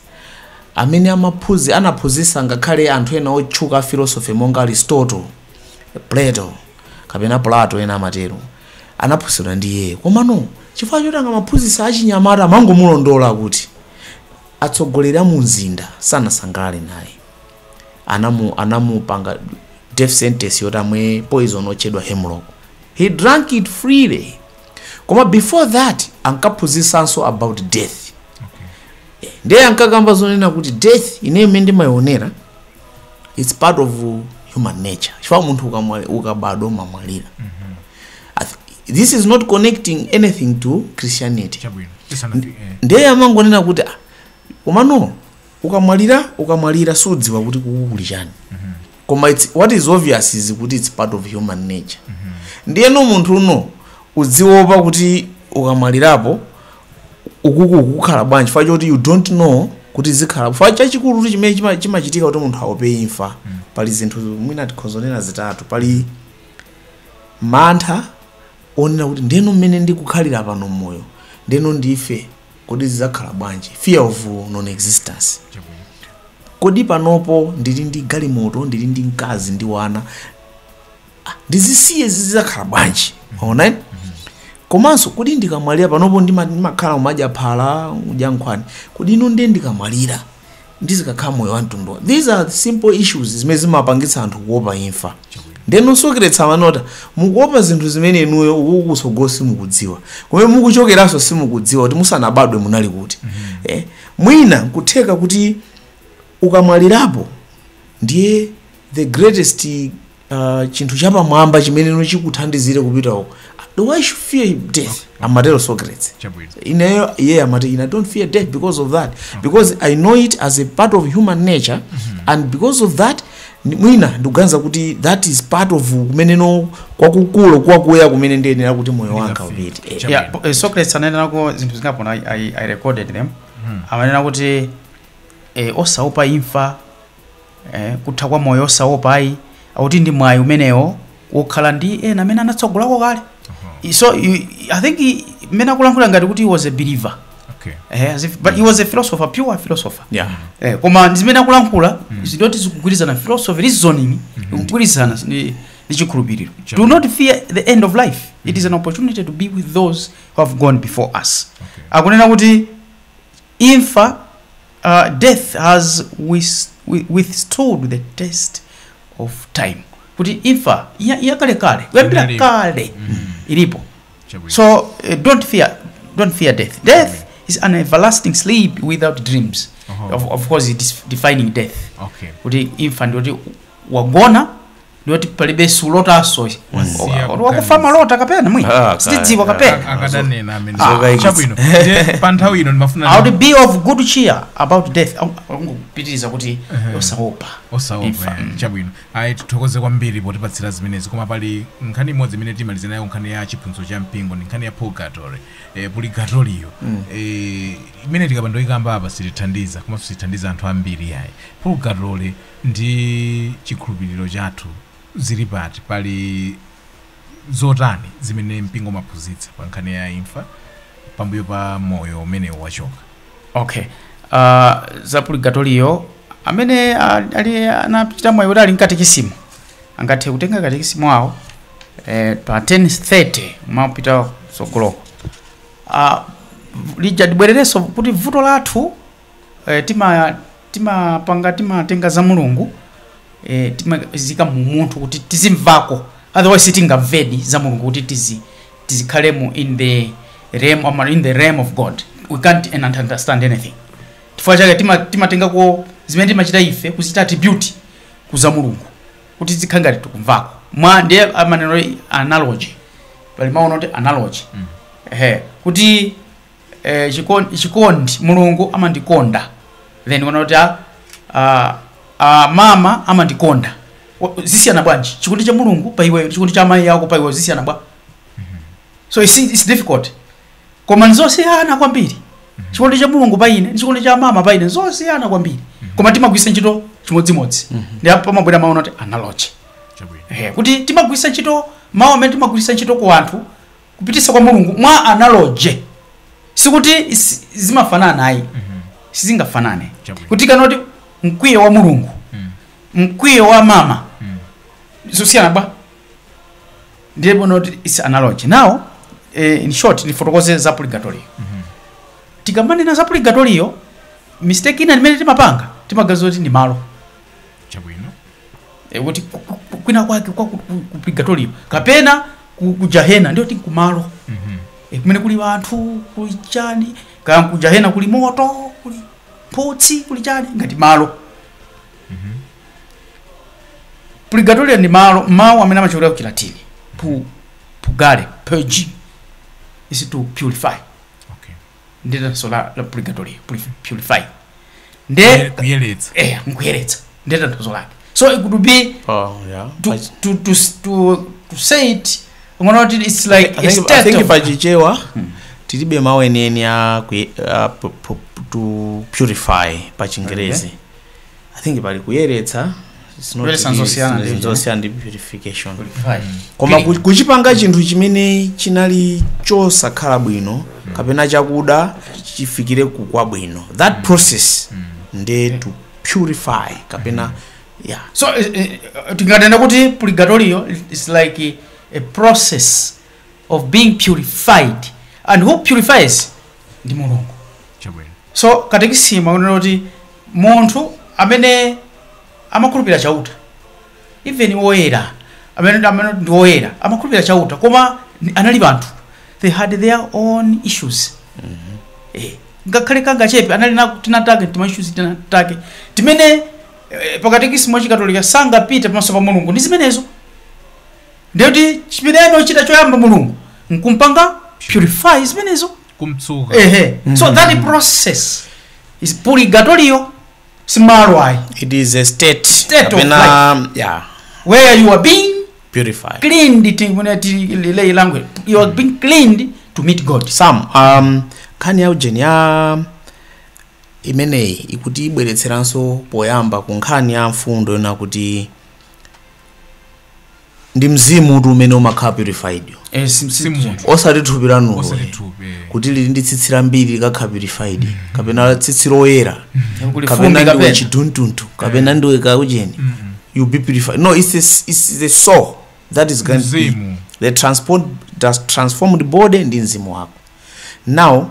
amene amaphuzi anaphunzitsa ngakhale anthu ena otchuka a philosophy monga aristotle plato kapena plato ena amatero anaphunzitsidwa ndi iyeyo komano chifukwa choti akamaphunzitsa achinyamata amangomulondola kuti atsogoleri a mu mzinda sanasangalare naye anamu anamupanga death sentence yoti amwe poison otchedwa hemlock he drank it freely koma before that ankaphunzisanso about death Eh, ndiye ankakamba zonena kuti death ineyo imene ndimayionera it's part of human nature chifukwa munthu ukamwa- ukabadwa umamwalira I th- this is not connecting anything to christianity chabwino tisanati eh. ndiye amangonena kuti "Ah, komano ukamwalira ukamwalira siudziwa kuti kuku kuli chani koma it's, what is obvious is kuti it's part of human nature ndiyeno munthu uno uziopa kuti ukamwalirapo ukuku ukukhala bwanji chifukwa choti you don't know kuti zikhala chifukwa chachikulu kuti chimene chima- chimachitika kuti munthu aope imfa pali zinthu mwina tikhoza kunena zitatu pali mantha onena kuti ndeno mmene ndikukhalira pano mmoyo ndeno ndife Kodi zizakhala bwanji? Fear of non existence. Kodi panopo ndili ndi galimoto, ndili ndi mkazi ndili ndi wana. Ah, ndizisiye zizakhala bwanji? Waona? Komanso kodi ndikamwalira panopo ndimakhala umadya phala, udya nkhwani. Kodi ino ndiye ndikamwalira? ndizikakhala moyo wa mtundu these are simple issues zimene zimapangitsa anthu kuopa imfa ndeno Socrates amanena mukuopa zinthu zimene inuyo uku kutsogolo simukudziwa kumene mukuchokeranso simukudziwa kuti musanabadwe munali kuti eh, mwina kutheka kuti ukamwalirapo ndiye the greatest uh, chinthu chapamwamba chimene no chikuthandizire kupita uko ndiye why should I fear death amatero socrates chabwino ineyo iye amati ine i don't fear death because of that because i know it is a part of human nature and because of that ni- mwina ndikuganiza kuti that is part of kumeneno kwakukulu kwakuya kumene ndiyenera kuti moyo wanga upite Eh, Chabwino. yeah, po- eh, socrates ananenako zinthu zingapo na I, I recorded them amanena kuti eh, osaupa imfa eh, kutha kwa moyo osaopa ayi akuti ndi mwayi umenewo wokhala ndi ena amene anatsogolako kale I- so you, i think i- mmene akulankhula ngati kuti he was a believer okay eh, as if, but he was a philosopher pure philosopher yeah eh, koma zimene akulankhula zili ngati zikugwirizana philosophy reasoning ikugwirizana ndi ndi chikhulupiriro Sure. do not fear the end of life it is an opportunity to be with those who have gone before us Okay. akunena kuti Imfa, uh, death has with, with, withstood the test of time. Kuti imfa ya, ya kale kale, kuyambira Inalipo. kale ilipo. Chabwino. So uh, don't fear, don't fear death. Death is an everlasting sleep without dreams. Oho. Of, of course, it is defining death. okay. Kuti imfa ndi kuti wagona ndoti palibe sulotanso Wasiya Wa- wakufa kuganiza. malota kapena mwi Ah, sitidziwa kaya. kapena akadanena amene Zokayikitsa. chabwino Ndiye pa nthawi ino ndimafuna i would be of good cheer about death angopitiriza kuti osaopa osaopa Imfa. chabwino ayi tithokoze kwambiri potipatsira zimenezi koma pali nkhani imodzi imene timalize nayo nkhani ya chiphunzitso cha mpingo ndi nkhani ya purgatory eh, purigatoriyo eh, imene tikapanda kuikamba apa sitithandiza koma sitithandiza anthu ambiri yayi purgatory ndi chikhulupiriro chathu ziri pati? Pali zotani zimene mpingo umaphunzitsa pa nkhani ya imfa pambuyo pa moyo umene wachoka? ok uh, za purigatoriyo amene ali ali- anachita mwayi kuti ali ndi katikisimu angathe kutenga katikisimu awo eh, pa 1030 mwapita tsogoloko uh, lija tibwererenso kuti vuto lathu eh, tima timapanga timatenga za mulungu eh, timaziika mu munthu kuti tizimvako otherwise sitingamvedi za mulungu kuti tizi tizikhalemo in the realm or in the realm of god we can't understand anything chifukwa chake tima- timatengako zimene timachita ife kuzita attribute kuza mulungu kuti zikhale ngati tikumvako mwa ndiye amanena analogy pali mawu oti analogy ehe kuti eh, chikon- chikondi mulungu amandikonda then uwona kuti ah, ah, ah, mama amandikonda Wa- zisiyana bwanji chikondi cha mulungu pa iweyo chikondi cha amayi ako pa iweyo zisiyana bwa so it's, it's difficult koma nzosiyana kwambiri chikondi cha mulungu pa ine ndi chikondi cha mama pa ine nzosiyana kwambiri koma timagwisa ntchito chimodzimodzi ndiye apo pamabwera mawu onena kuti analogy Chabwino. Eh, kuti timagwisa ntchito mawu amene timagwisa ntchito ku anthu kupititsa kwa mulungu mwa analogy sikuti si- zimafanana ayi sizingafanane Chabwino. kuti tikanena kuti mkwiyo wa mulungu mkwiyo wa mama zisiyana bwa ndiye muona kuti is analogy now eh, in short ndifotokoze za purgatorio tikamanena za purgatorio mistake ina imene timapanga timaganiza kuti ndi malo chabwino e, kuti ku- ku- ku- kwina kwake kwa ku- ku- ku purgatorio kapena ku, ku jahena ndiye kuti kumalo Mhm. e, kumene kuli anthu kuli chani kaya ku jahena kuli moto kuli mphutsi kuli chani ngati malo purgatorio ndi malo mawu amene achokera ku chilatini pu purgare purge is to purify ndetanso la, la purgatory purify nde kuyeretsa eh nkuyeretsa ndetanso lake so it could be oh yeah to, I- to, to, to, to say it ngono kuti it's like I a think, I state think of, pachichewa tilibe mawu enieni a kuye- a pu- pu- to purify pa chingerezi i think pali kuyeretsa it's not Kuyeretsa really- nzosiyana ndi zinthu ichi, zosiyana ndi purification Purify. koma ku- kuchipanga chinthu chimene chinali chosakhala bwino kapena chakuda chifikire ku ubwino that process nde to purify kapena yeah so eh, eh, tinganena kuti purigatoriyo is like a process of being purified and who purifies ndi mulungu chabwino so katekisimu akunena kuti munthu amene amakhulupirira chauta even woyera amene amene ndi woyera amakhulupirira chauta koma ni- anali anthu they had their own issues Eh, ngakhale kangachepe anali na tinatake tima issues tinatake timene eh, pakatekisimu wachikatolika sangapite pamaso pa mulungu ndi zimenezo Ndiye kuti chimene ayenera kuchita choyamba Mulungu nkumpanga purify zimenezo. kumtsuka Ehe. So that process is purgatorio si malo ayi it is a state, State of kapena yeah, where you are being purified cleaned tinene mu lay language you are being cleaned to meet God. sam um, nkhani ya ujeni ya imeneyi ikuti ibweretseranso poyamba ku nkhani ya mfundo yona kuti ndi mzimu uti umene umakhala purified Eh, si- si- si munthu osati thupi lanulo osati eh. thupi eh. kuti lili ndi tsitsi lambiri likakhala purified kapena tsitsi loyera Kuli kapena fumbi ndiwe kapena. chiduntuntu kapena ndiwe kaucheni you be purified no it's, a, it's the soul that is going to be Mzimu. the transport the transformed body ndi mzimu wako now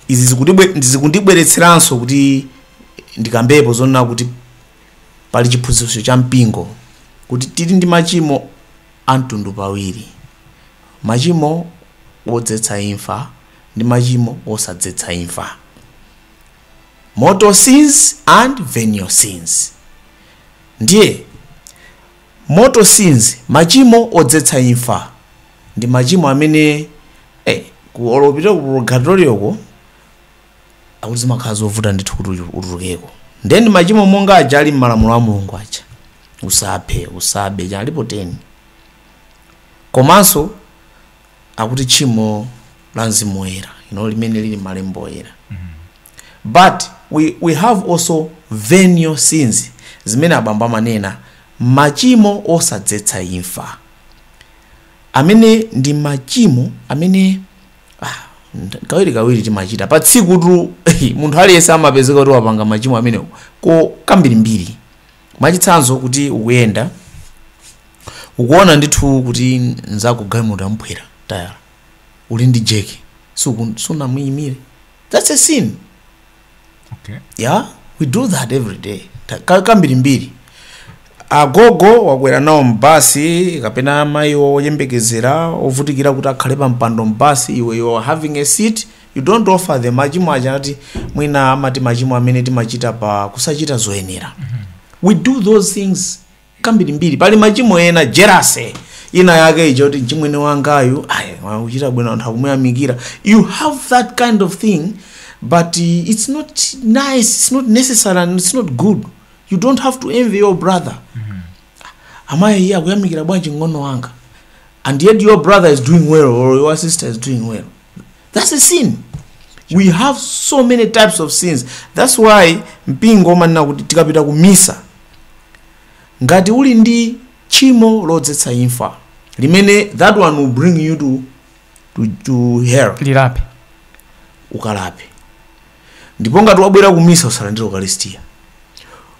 izi zikundibwe- zikundibweretseranso kuti ndikambepo zonena kuti Pali chiphunzitso cha mpingo kuti tili ndi machimo a mtundu pawiri, machimo odzetsa imfa ndi machimo osadzetsa imfa, mortal sins and venial sins. Ndiye mortal sins, machimo odzetsa imfa, ndi machimo amene eh, ku olopita ku purgatorioko akuti zimakhala zovuta ndithu kuti uchu- utulukeko ndiye ndi machimo monga aja ali m'malamulo a mulungu aja usaphe usabe aja alipo 10 komanso akuti tchimo la mzimu woyera you know, limene lili m'malembo oyera but we, we have also venial sins zimene abambo amanena machimo osadzetsa imfa amene ndi machimo amene kawiri kawiri timachita pa tsikutu munthu aliyense amapezeka kuti wapanga machimo amenewo ko kambirimbiri mwachitsanzo kuti ukuyenda ukuona ndithu kuti nzako galimoto yamuphwera tayala uli ndi jeki suku- sunamuimire that's a sin okay. yeah we do that every day Ta- ka- kambirimbiri agogo wakwera nawo m'basi kapena amayi oyembekezera ovutikira kuti akhale pa mpando m'basi iwe you are having a seat you don't offer them machimo aja ati mwina amati machimo amene timachita pa kusachita zoyenera we do those things kambirimbiri pali machimo ena jelasi ina yake ija kuti mchimwene wangayu ayi akuchita bwino anthu akumuyamikira you have that kind of thing but uh, it's not nice it's not necessary and it's not good you don't have to envy your brother amayi iye akuyamikira bwanji mng'ono wanga and yet your brother is doing well or your sister is doing well That's a sin. We have so many types of sins. That's why mpingo umanena kuti tikapita ku misa ngati uli ndi tchimo lodzetsa imfa limene that one will bring you to, to, to hell ulilape ukalape ndipo ngati wabwera ku misa usalandire ukalistia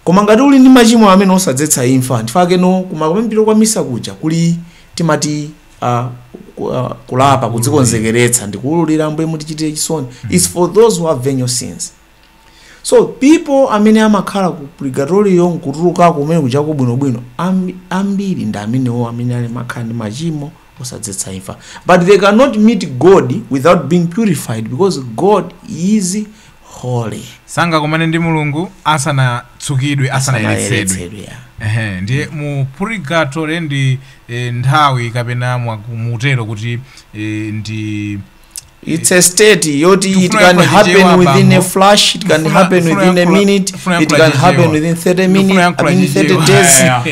koma ngati uli ndi machimo amene osadzetsa imfa nchifukwa chake kumayambiriro kwa misa kuja kuli timati uh, ku- uh, kulapa kudzikonzekeretsa ndikuulula ambuye mutichitire chisoni its for those who have venial sins so people amene amakhala ku purgatorio nkutulukako kumene kujako bwinobwino ambi- ambiri ndi amenewo amene ali amakhala ndi machimo osadzetsa imfa but they cannot meet god without being purified because god is holy sangakomane ndi mulungu asanatsukidwe asanayeretsedwe Asanayeretsedwe, yeah. Ehe, ndiye mu purigatore ndi eh, nthawi kapena mwa- muntero kuti eh, ndi it's a state yoti it Tufuna can yankula happen chichewa within a bambo. flash it can Tufuna- happen tufuna within a yankula- minute tufuna it yankula can happen chichewa. within 30 Tufuna minutes i yankula mean 30 chichewa. days Yeah,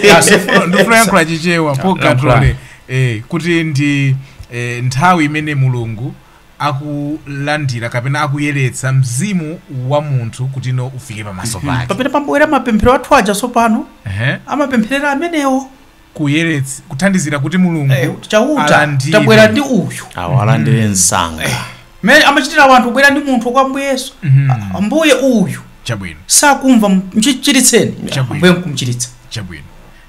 yeah. Ndifuna- ndifuna yankula chichewa po Yankula. katrole eh, kuti ndi eh, nthawi imene mulungu akulandira kapena akuyeretsa mzimu wa munthu kuti ufike pamaso pake pamene pamabwera mapemphero athu aja tsopano Ehe. amapempherera amenewo kuyerets kuthandizira kuti mulungu Eh, chauta alandire. tabwera ndi uyu awo alandire msanga mene amachitira wanthu kubwera ndi munthu kwa mbuye yesu Mhm. Ah, mbuye uyu chabwino sakumva mchiritseni Chabwino. mbuye mkumchiritsa chabwino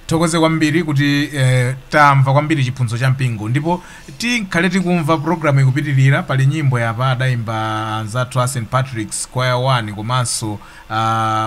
tithokoze kwambiri kuti eh, tamva kwambiri chiphunzitso cha mpingo ndipo tikhale tikumva programu ikupitirira pali nyimbo apa adayimba anzathu a st patrick's choir 1 komanso uh,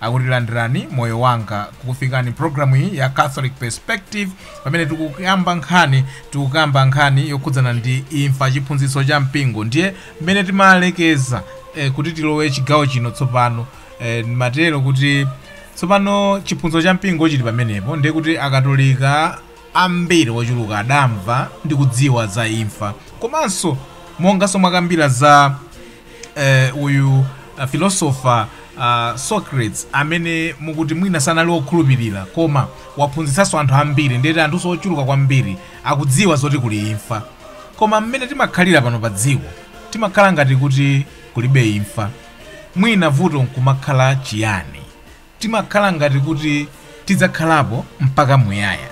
akuti landirani moyo wanga tikukufikani mpulogalamu iyi ya catholic perspective pamene tikukamba nkhani tikukamba nkhani yokhudzana ndi imfa chiphunzitso cha mpingo ndiye mmene timalekeza eh, kuti tilowe chigawo chino tsopano eh, mwatero kuti tsopano chiphunzitso cha mpingo chili pamenepo ndiye kuti akatolika ambiri ochuluka adamva ndi kudziwa za imfa komanso monganso mwakambiramu za eh, uyu uh, philosopher uh, socrates amene mukuti mwina sanali wokhulupirira koma waphunzitsanso anthu ambiri ndiye kuti anthu ochuluka kwambiri akudziwa zoti kuli imfa koma mmene timakhalira pano pa dziko timakhala ngati kuti kulibe imfa mwina vuto limakhala chiyani Timakhala ngati kuti tidzakhalapo mpaka muyaya.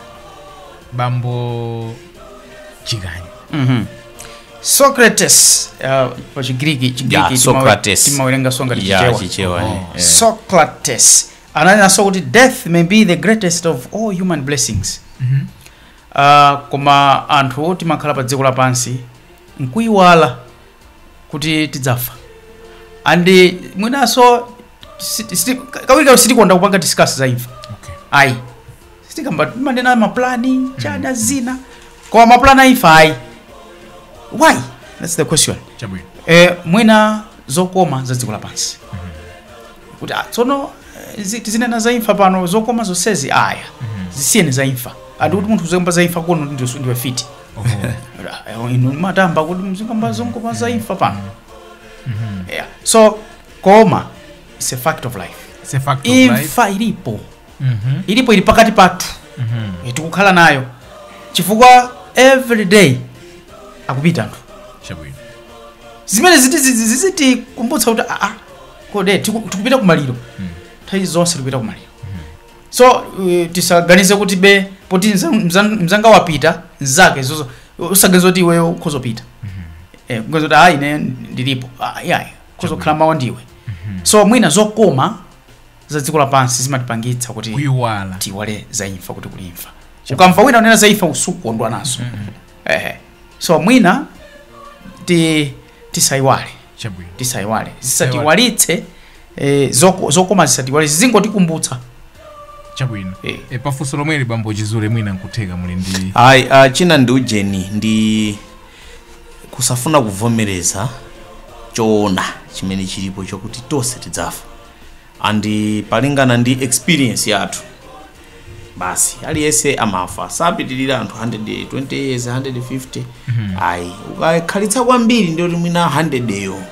Bambo Chikanyi. Mhm. Socrates uh, pa Chigiriki Yeah, Chigiriki timawe- Socrates. timawerenga monga mu Yeah, Chichewa. Chichewa, Oh. eh. Socrates ananenanso kuti death may be the greatest of all human blessings. Mhm. Uh, koma anthu timakhala pa dziko lapansi nkuyiwala kuti tidzafa and mwinanso Siti- siti- ka- kawirikawiri sitikonda kupanga discuss za imfa Okay. ayi sitikamba timanena maplani a zinthu zina koma maplani a imfa ayi why that's the question Chabwino. eh, mwina zokoma za dziko lapansi kuti ah, tsono eh, zi- tizinena za imfa pano zokoma zonsezi aya zisiyeni za imfa ati kuti munthu uzikamba za imfa kuno ndiwe ndiwe mfiti Oho. Ah, eh, inu mwayamba kuti muzikamba zokoma za imfa pano yeah. so koma it's a fact of life It's a fact of life. imfa ilipo Mhm. ilipo ili pakati pathu Mhm. Eh, tikukhala nayo chifukwa every day akupita anthu Chabwino. zimene ziti- zi- zi- zizitikumbutsa kuti aa kodi tiku- tikupita kumaliro nthawi zonse tikupita kumaliro so uh, tisaganize kuti bee poti mza- mza- mzanga wapita mzake zozo usaganize kuti iweyo ukhoza kupita Eh, kuganiza kuti ayi ine ndilipo Ah, yeah, yeah. ukhoza kukhala mawa ndiwe so mwina zokoma za dziko lapansi zimatipangitsa kuti kuiwala tiiwale za imfa kuti kuli imfa ukamva wina unena za imfa sukondwa nazo eh. so mwina ti tisayiwale chabwino tisayiwale zisatiiwalitse eh, zoko- zokoma tisaiwale zizingotikumbutsa chabwino Eh. e, pafunso lomweli bambo Chizule mwina nkutheka muli ndi ayi uh, china ndi ujeni ndi Kusafuna kuvomereza choona chimene chilipo chokuti tonse tidzafa and palingana ndi experience yathu basi aliyense amafa sapitirira anthu 120 years 150 ayi ukakhalitsa kwambiri ndiye kuti mwina 100 yo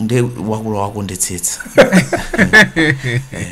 ndiwe wakula wakondetsetsa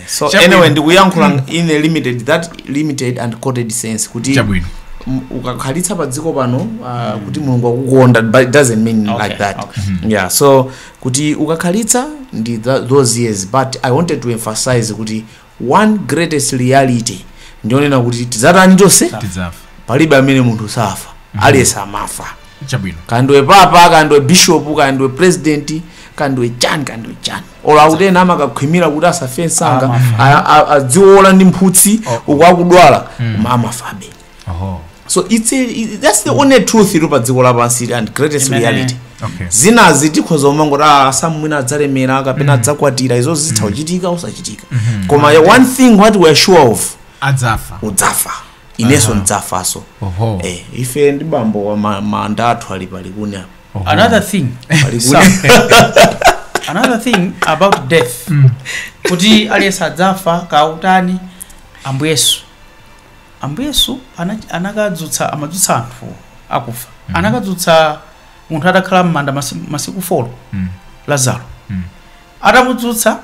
so Chabwino. anyway ndikuyankhula in a limited that limited and coded sense kuti chabwino m- ukakhalitsa pa dziko pano uh, kuti mulungu wakukonda but it doesn't mean Okay, like that okay. yeah so kuti ukakhalitsa ndi tha- those years but i wanted to emphasize kuti one greatest reality ndi yonena kuti tidzatani tonse tidzafa palibe amene munthu safa aliyense amafa chabwino kaya ndiwe papa kaya ndiwe bishop kaya ndiwe president kaya ndiwe chani kaya ndiwe chani olo akuti ena amakakhwimira kuti asafe msanga a- a- aziwola ndi mphutsi uku akudwala koma amafabe Oho. so it's a, it, that's the only truth iri padziko lapansi and greatest reality Okay. zinazi tikhoza kumangoti ah, Sam mwina adzalemera kapena adzakwatira izo zitha kuchitika kusachitika koma ya one thing what we are sure of adzafa udzafa inenso ndidzafanso Oho. eh, ife ndi bambo wa ma- manda athu ali pa Likuni apa Oho. another thing Pa Likuni. Sam, another thing about death kuti aliyense adzafa kaya utani Ambuye Yesu Ambuye Yesu anach- anakadzutsa amadzutsa anthu akufa Mhm. anakadzutsa munthu atakhala m'manda masi- masiku folo Mm. lazaro Mm. atamudzutsa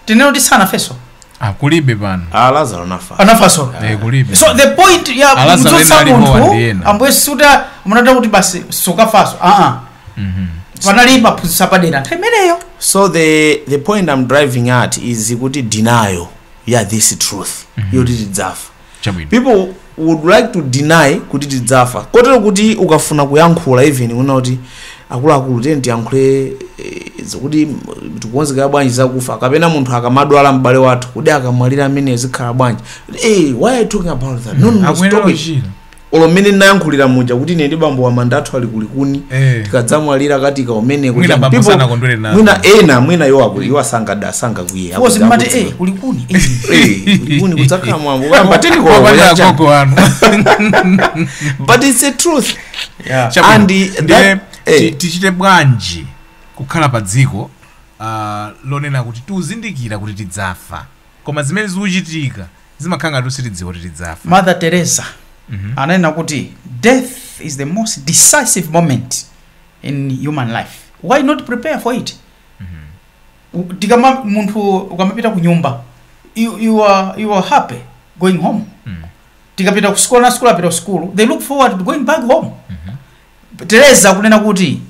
tinene kuti sanafenso Ah, kulibe pano a lazaro anafa anafanso Eh, kulibe so the point ya Alazaro kumdzutsa ena alipo munthu wandiena. ambuye Yesu kuti munatha kuti basi sukafanso aa Mhm. panali maphunziro apadera nthawi imeneyo so the the point i'm driving at is kuti denial ya this truth yoti tidzafa Chabwino. people would like to deny kuti tidzafa kotero kuti ukafuna kuyankhula even kunena kuti akuluakulu tiyeni tiyankhule eh, zokuti mm, tikukonzekera bwanji zakufa kapena munthu akamadwala m'bale wathu kuti akamwalira ameneyo zikhala bwanji hey, why are you talking about that no, no, no, akuyenera stop it. kuchira olo mmene ndinayankhulira muja kuti ine ndi bambo wa manda athu ali ku Likuni Eh. tikadzamwalira akatiika kumeneko Mwina Chani, bambo people- sanakondwere nazo. mwina ena mwina iwo akuli iwo asangada asangakwiye Wosi mmati eh ku Likuni. eh. ku Likuni kudzakhala mwambo kuyamba teniko Wapanda ya Chani. agogo wanu but it's a truth Yeah. Chabwino. And the- Ndiye that- eh. ti- tichite bwanji kukhala pa dziko ah, lonena kuti tikuzindikira kuti tidzafa koma zimene zikuchitika zimakhala ngati sitidziwa kuti tidzafa mother teresa ananena kuti death is the most decisive moment in human life why not prepare for it U- tikama munthu ukamapita ku nyumba you, you, are, you are happy going home Mm. tikapita ku school ana a school akapita ku school they look forward to going back home teresa kunena kuti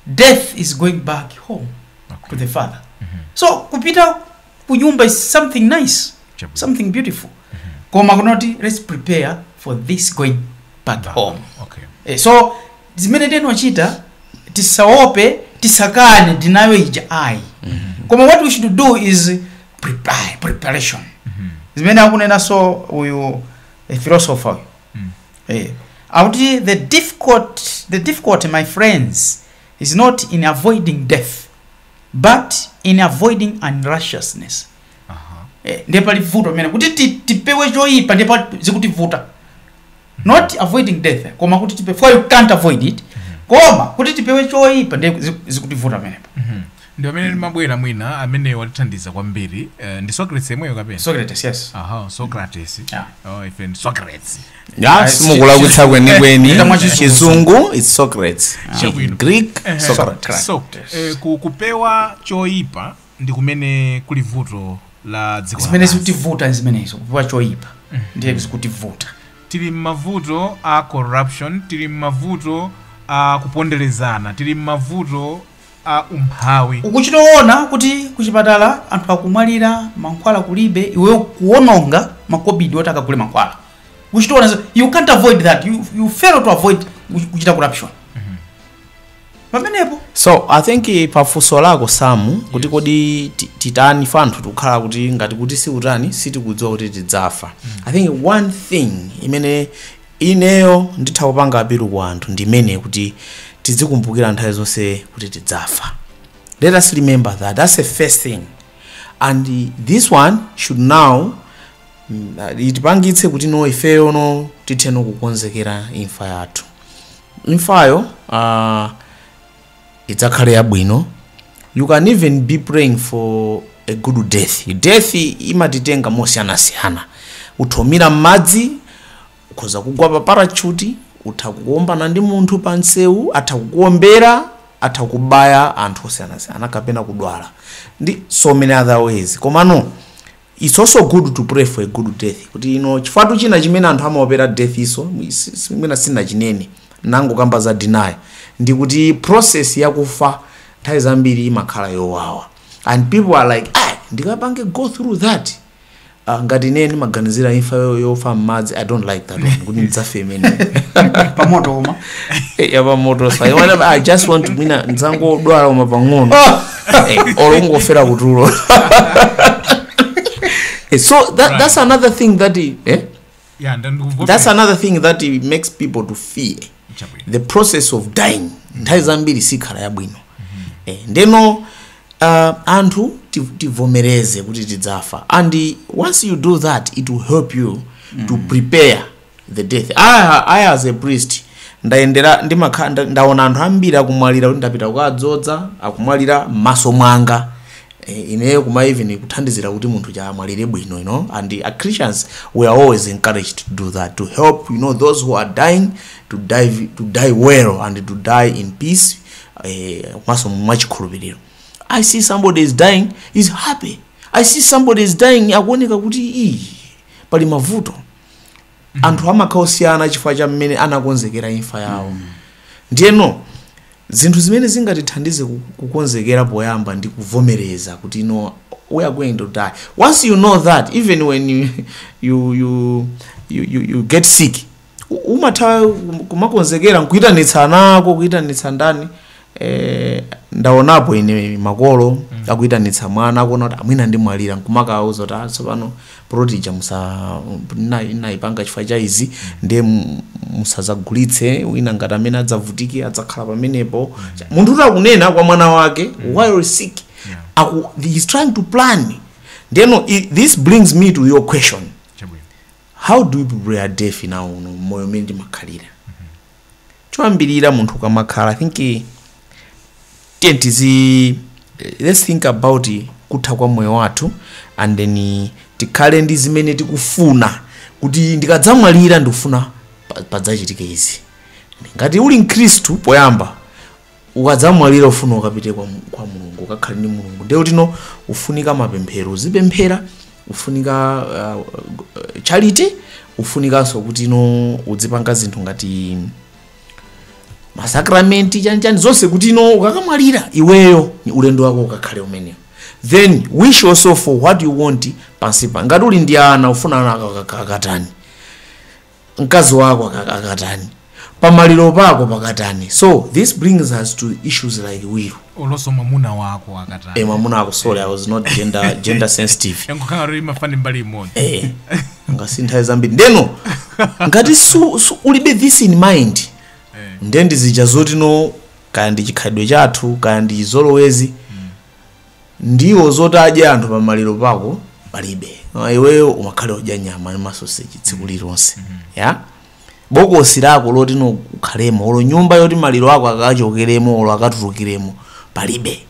death is going back home to the father so kupita kunyumba is something nice Chabwino. something beautiful koma kunoti let's prepare for this going back Back. home okay Eh, so zimene tinochita tisaope tisakane ndinayo ija ayi koma what we should do is prepare preparation zimene akunenanso uyu eh, philosopher uyu Mm. eh, akuti the difficult the difficulty my friends is not in avoiding death but in avoiding unrighteousness eh, ndiye pali vuto pamene kuti ti- tipewe choyipa ndiye zikutivuta not avoiding death eh, koma kuti tipewe for you can't avoid it koma kuti tipewe choyipa ndiye zi- zikutivuta pamenepo ndi amene ndimabwera mwina amene watithandiza kwambiri eh, ndi socrates yemweyo kapena socrates yes aha socrates Yeah. oh, ife ndi socrates Ah, simukulakwitsa kwenikweni Chita mwachizungu. chizungu is socrates Chabwino. greek Eh, socrates so eh, ku- kupewa choyipa ndi kumene kuli vuto la dziko zimene lapansi. zikutivuta ndi zimenezo kupewa choyipa ndiye zikutivuta tili mmavuto a corruption tili mmavuto a kuponderezana tili mmavuto a umphawi. Ukuchita kuona kuti kuchipatala anthu akumwalira mankhwala kulibe iweyo kuwononga makobidi oti akagule mankhwala. Ukuchita kuona you can't avoid that you, you fail to avoid kuchita corruption. Mm -hmm. Pamenepo so i think eh, pafunso lako samu kuti kodi ti- titani ife anthu tikukhala kuti ngati kuti si utani sitikudziwa kuti tidzafa i think one thing imene Ineyo nditha kupanga appeal ku anthu ndi yoti tizikumbukira nthawi zonse kuti tidzafa let us remember that that's a first thing and this one should now itipangitse kuti no ifeyo no tithe no kukonzekera imfa yathu imfayo uh, idzakhale yabwino you can even be praying for a good death death imatitenga mosiyanasiyana utha kumira m'madzi ukhoza kugwa pa parachute utha kuombana ndi munthu pa msewu atha kukuombera atha kubaya anthu osiyanasiyana kapena kudwala ndi so many other ways komano Its also good to pray for a good death kuti you know chifukwatu china chimene anthu amaopera death is mwina sinachinene nangokamba za dinayo ndi kuti process yakufa nthawi zambiri imakhala yowawa and people are like ah ndikapange go through that uh, ngati ine ndimaganizira imfa yo- yofa mmadzi i don't like that one kuti ndidzafe imene pamoto uma yapamoto sa i just want to mwina ndidzangodwala uma pang'ono Eh, olo kungofera kutulo Eh, so that, Right. that's another thing that i- eh? ya ndandikuvomereza. that's another thing that i- makes people to fear Chabwino. the process of dying nthawi zambiri sikhala yabwino eh, ndeno uh, anthu ti- tivomereze kuti tidzafa and once you do that it will help you to prepare the death I, I as a priest ndayendera ndimakha nda- ndaona anthu ambiri akumwalira kuti ndapita kukawadzoza akumwalira m'maso mwanga e, ineyo kuma even kuthandizira kuti munthu uja amwalire bwino you know and the, uh, christians we are always encouraged to do that to help you know those who are dying to die, to die well and to die in peace eh, komanso mwachikhulupiriro i see somebody is dying is happy i see somebody is dying akuoneka kuti iyi pali mavuto anthu amakhala osiyana chifukwa cha mmene anakonzekerera imfa yawo ndiyeno zinthu zimene zingatithandize ku- kukonzekera poyamba ndi kuvomereza kuti no we are going to die once you know that even when you, you, you, you, you, you get sick u- umatha kum- kumakonzekera nkuyitanitsa ana ako kuyitanitsa ndani Eh, ndaonapo ine makolo akuitanitsa mwana akuona kuti mwina ndimwalira nkumakauza kuti "Ah, tsopano poloti ija musa na- naipanga chifukwa cha izi ndiye mu- musazagulitse wina ngati amene adzavutike adzakhala pamenepo munthu kuti akunena kwa mwana wake while sick aku, he's trying to plan ndeno i- this brings me to your question chabwino how do you prepare death now uno moyo umene ndimakhalira choyambirira munthu ukamakhala i think eh, tiye tizi eh, let's think about eh, kutha kwa moyo wathu and then eh, tikhale ndi zimene tikufuna kuti ndikadzamwalira ndikufuna pa- padzachitike izi ngati uli mkhristu poyamba ukadzamwalira ufuna ukapite kwa, Mu- kwa mulungu ukakhale ndi mulungu ndiye kutino ufunika mapemphero uzipemphera ufunika uh, uh, charity ufunikanso kuti no uzipanga zinthu ngati masakramenti chanchani zonse kuti no ukakamwalira iweyo ulendo wako ukakhale umeneo then wish also for what you want pansipa ngati uli ndi ana ufuna ana akakatani mkazi wako aka- akatani pamaliro pako pakatani so this brings us to issues like will oloso mwamuna wako akatani e mwamuna ako sorry i was not gender, gender sensitive yangokhala kuti imafani mbali imodzi Eh, ngati nthawi zambiri ndeno ngati u, u, ulibe this in mind Eh. nde ndizija zoti no kaya ndi chikhalidwe chathu kaya ndi chizolowezi ndiwo zoti adye anthu pa maliro pako palibe Ah, iweyo umakhala ukudya nyama ndi masoseji tsiku lililonse bokosi lako loti no ukhalemo olo nyumba yoti maliro ako akachokeremo olo akatulukiremo palibe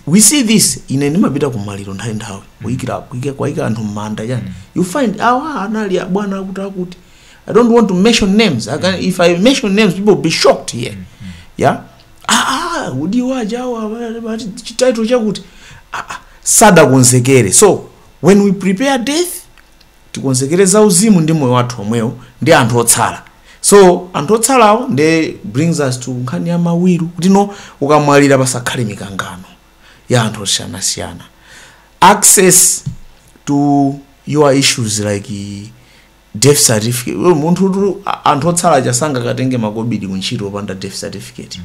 we see this ine ndimapita ku maliro nthawi nthawi kuyikira kuyika kukayika anthu mmanda chani you find awa anali abwana akuti akuti i don't want to mention names I can, if i mention names people will be shocked here yeah aa odi waja awa amati chitaito chakuti aa sadakonzekere so when we prepare death tikonzekere za uzimu ndi moyo wathu omwewo ndi anthu otsala so anthu otsalawo nde brings us to nkhani ya mawiru kuti no ukamwalira pasakhale mikangano ya anthu osiyanasiyana access to your issues like death certificate Iwe munthu tu a- anthu otsala aja sangakatenge makobidi kuntchito opanda death certificate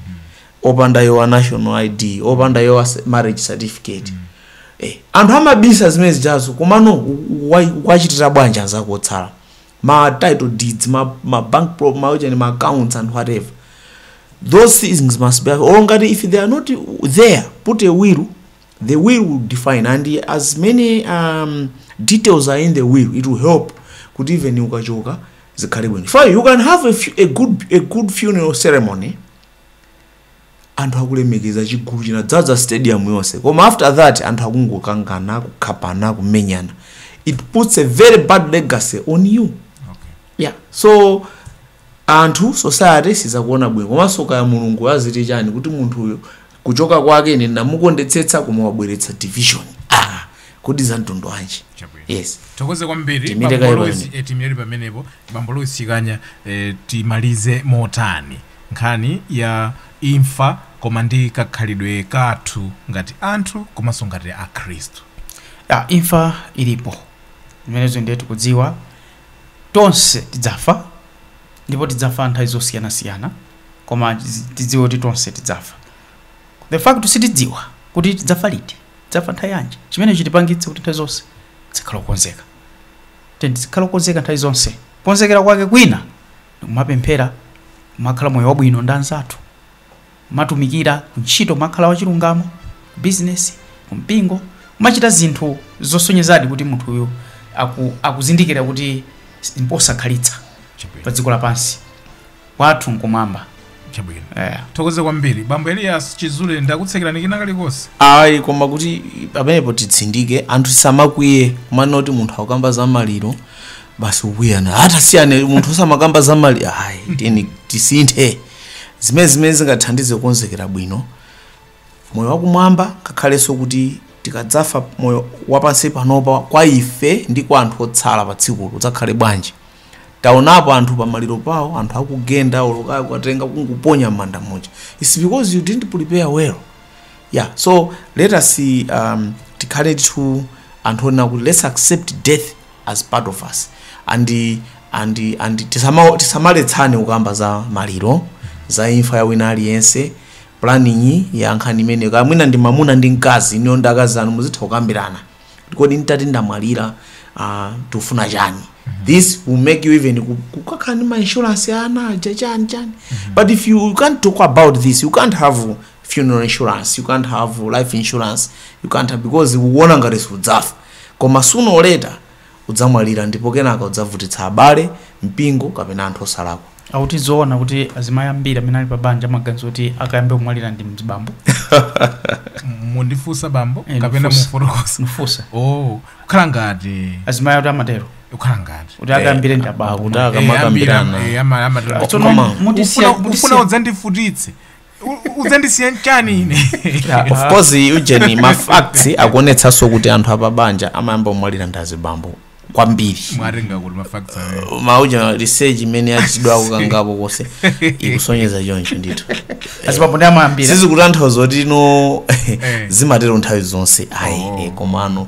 opanda your national id opanda your se- marriage certificate eh, anthu amabisa zimene zijazo komano u- u- wa- wachitira bwanji anzako otsala ma title deeds ma, ma bank pro ma, ujani, ma accounts and whatever those things must be or ngati if they are not there put a will The will will define and as many um, details are in the will it will help kuti even ukachoka zikhale bwino chifukwa you can have a, fu- a, good, a good funeral ceremony anthu akulemekeza chigulu chinadzadza stadium yonse koma after that anthu akungokangana kukhapana kumenyana it puts a very bad legacy on you okay. yeah so anthu society sizakuona bwino komanso kaya mulungu aziti chani kuti munthu uyu kuchoka kwake ine ndinamukondetsetsa koma wabweretsa division ah kodi za mtundu wanji Chabwino. yes tithokoze kwambiri Tiimire kaye pamenepo bambo Loizi Chikanya eh, timalize motani nkhani ya imfa koma ndi kakhalidwe kathu ngati anthu komanso ngati akhristu ya imfa ilipo zimenezo ndiye tikudziwa Tonse tidzafa ndipo tidzafa nthawi zosiyana siyana koma tidziwe kuti tonse tidzafa. The fact sitidziwa kuti tidzafa liti, tidzafa nthawi yanji, chimene chitipangitse kuti nthawi zonse tizikhala okonzeka. Tiyeni tizikhala okonzeka nthawi zonse. Kukonzekera kwake kwina ndikumapemphera, kumakhala moyo wabwino ndi anzathu. Kumatumikira kuntchito, kumakhala wachilungamo kubizinesi, kumpingo. Kumachita zinthu zosonyezadi kuti munthuyu akuzindikira kuti mposakhalitsa padziko lapansi kwathu n'kumwamba. Chabwino. Eya. Thokoza kwambiri. Bambo Elias Chizule ndakutsekererani kina kalikonse? ayi koma kuti pamenepo titsindike anthu tisamakwiye kumanena kuti munthu akukamba za maliro basi ukuyankha tasiya iwe munthu osamakamba za maliro ayi tiyeni tisinthe zimene zimene zingathandize kukonzekera bwino moyo wakumwamba ngakhalenso kuti tikadzafa moyo wapansi panopa kwa ife ndi kwa anthu otsala pa tsikulo udzakhale bwanji taonapo anthu pamaliro pawo anthu akugenda olokayo kukatenga kungoponya m'manda muja its because you didn't prepare well yeah so let us um, tikhale ndithu anthu onena kuti let's accept death as part of us and and and tisama- tisamaletsane kukamba za maliro za imfa ya wina aliyense planning ya nkhani imeneyo kaya mwina ndi mamuna ndi mkazi inuyo ndi akazi anu muzitha kukambirana kodi nditati ndamwalira uh, tikufuna chani this will make you even ku- kukakhala ndi ma insurance ya ana aja chani chani but if you, you can't talk about this you can't have funeral insurance you can't have life insurance you can't have because ukuona ngati sudzafa Koma sooner or later udzamwalira ndipo kenaka udzavutitsa abale, mpingo kapena anthu osalakwa. akuti zoona kuti azimayi ambiri amene ali pa banja amaganiza kuti akayambe kumwalira ndi mzibambo mukundifunsa bambo Eh, kapena ndifunsa. mufotokosa mfusa oh kukhala ngati azimayi akuti amatero kukhala ngati kuti akayambire ndi abambo Akuti Eh, akamakambirana. ambira- eh, ama- ama- Tsono Koma- mutisiya- Ufuna- mutisiya- ufuna udzandivutitse udzandisiya chani ine Yeah, of course ujeni mafacts akuonetsanso kuti anthu apabanja amayamba kumwalira ndi azibambo kwambiri mwatenga kuti mafacts awo mauja research imene yachitidwako kangapo konse ikusonyeza choncho ndithu azibambo ndi amayambira sizikutanthauza kuti no zimatero nthawi zonse ayi Oh. eh, komano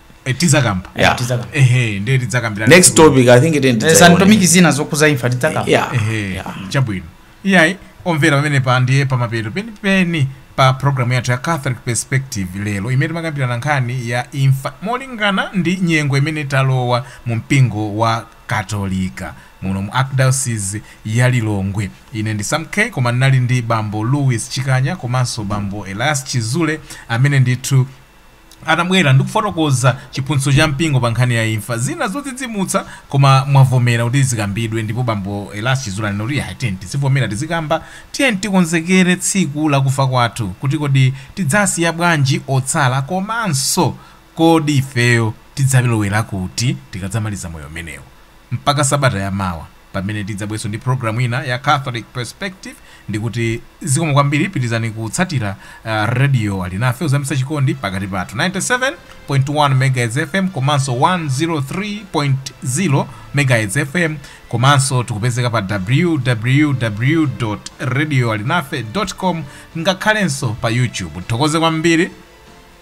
Eh, tizakamba Yeah. Tizaka. ehe ndiye tidzakambira next topic i think it ain't Eh, santomiki zina zokuza imfa tidzaka yeah ehe yeah. chabwino iyayi omvera pamenepa ndiye pamapeto penipeni pa programu yathu ya catholic perspective lero imene timakambirana nkhani ya imfa molingana ndi nyengo imene talowa mu mpingo wa katolika muno mu archdiocese ya lilongwe ine ndi sam k koma ndinali ndi bambo louis chikanya komanso bambo elias chizule amene ndithu anabwera ndikufotokoza chiphunzitso cha mpingo pa nkhani ya imfa, zina zodzidzimutsa, koma mwavomera kuti zikambidwe ndipo bambo Elias Chizule anena kuti iyayi tiyeni tizivomera tizikamba, tiyeni tikonzekere tsiku la kufa kwathu kuti kodi tidzasiya bwanji otsala komanso kodi ifeyo tidzalowera kuti tikadzamaliza moyo umenewu. Mpaka sabata ya mawa. Pamene tidzabwerenso ndi program ina ya Catholic Perspective ndikuti zikomo kwambiri pitilizani kutsatira Radio Alinafe kuzamitsa chikondi pakati pathu 97.1 MHz FM komanso 103.0 MHz FM komanso tikupezeka pa www radioalinafe com ngakhalenso pa YouTube. Tithokoze kwambiri.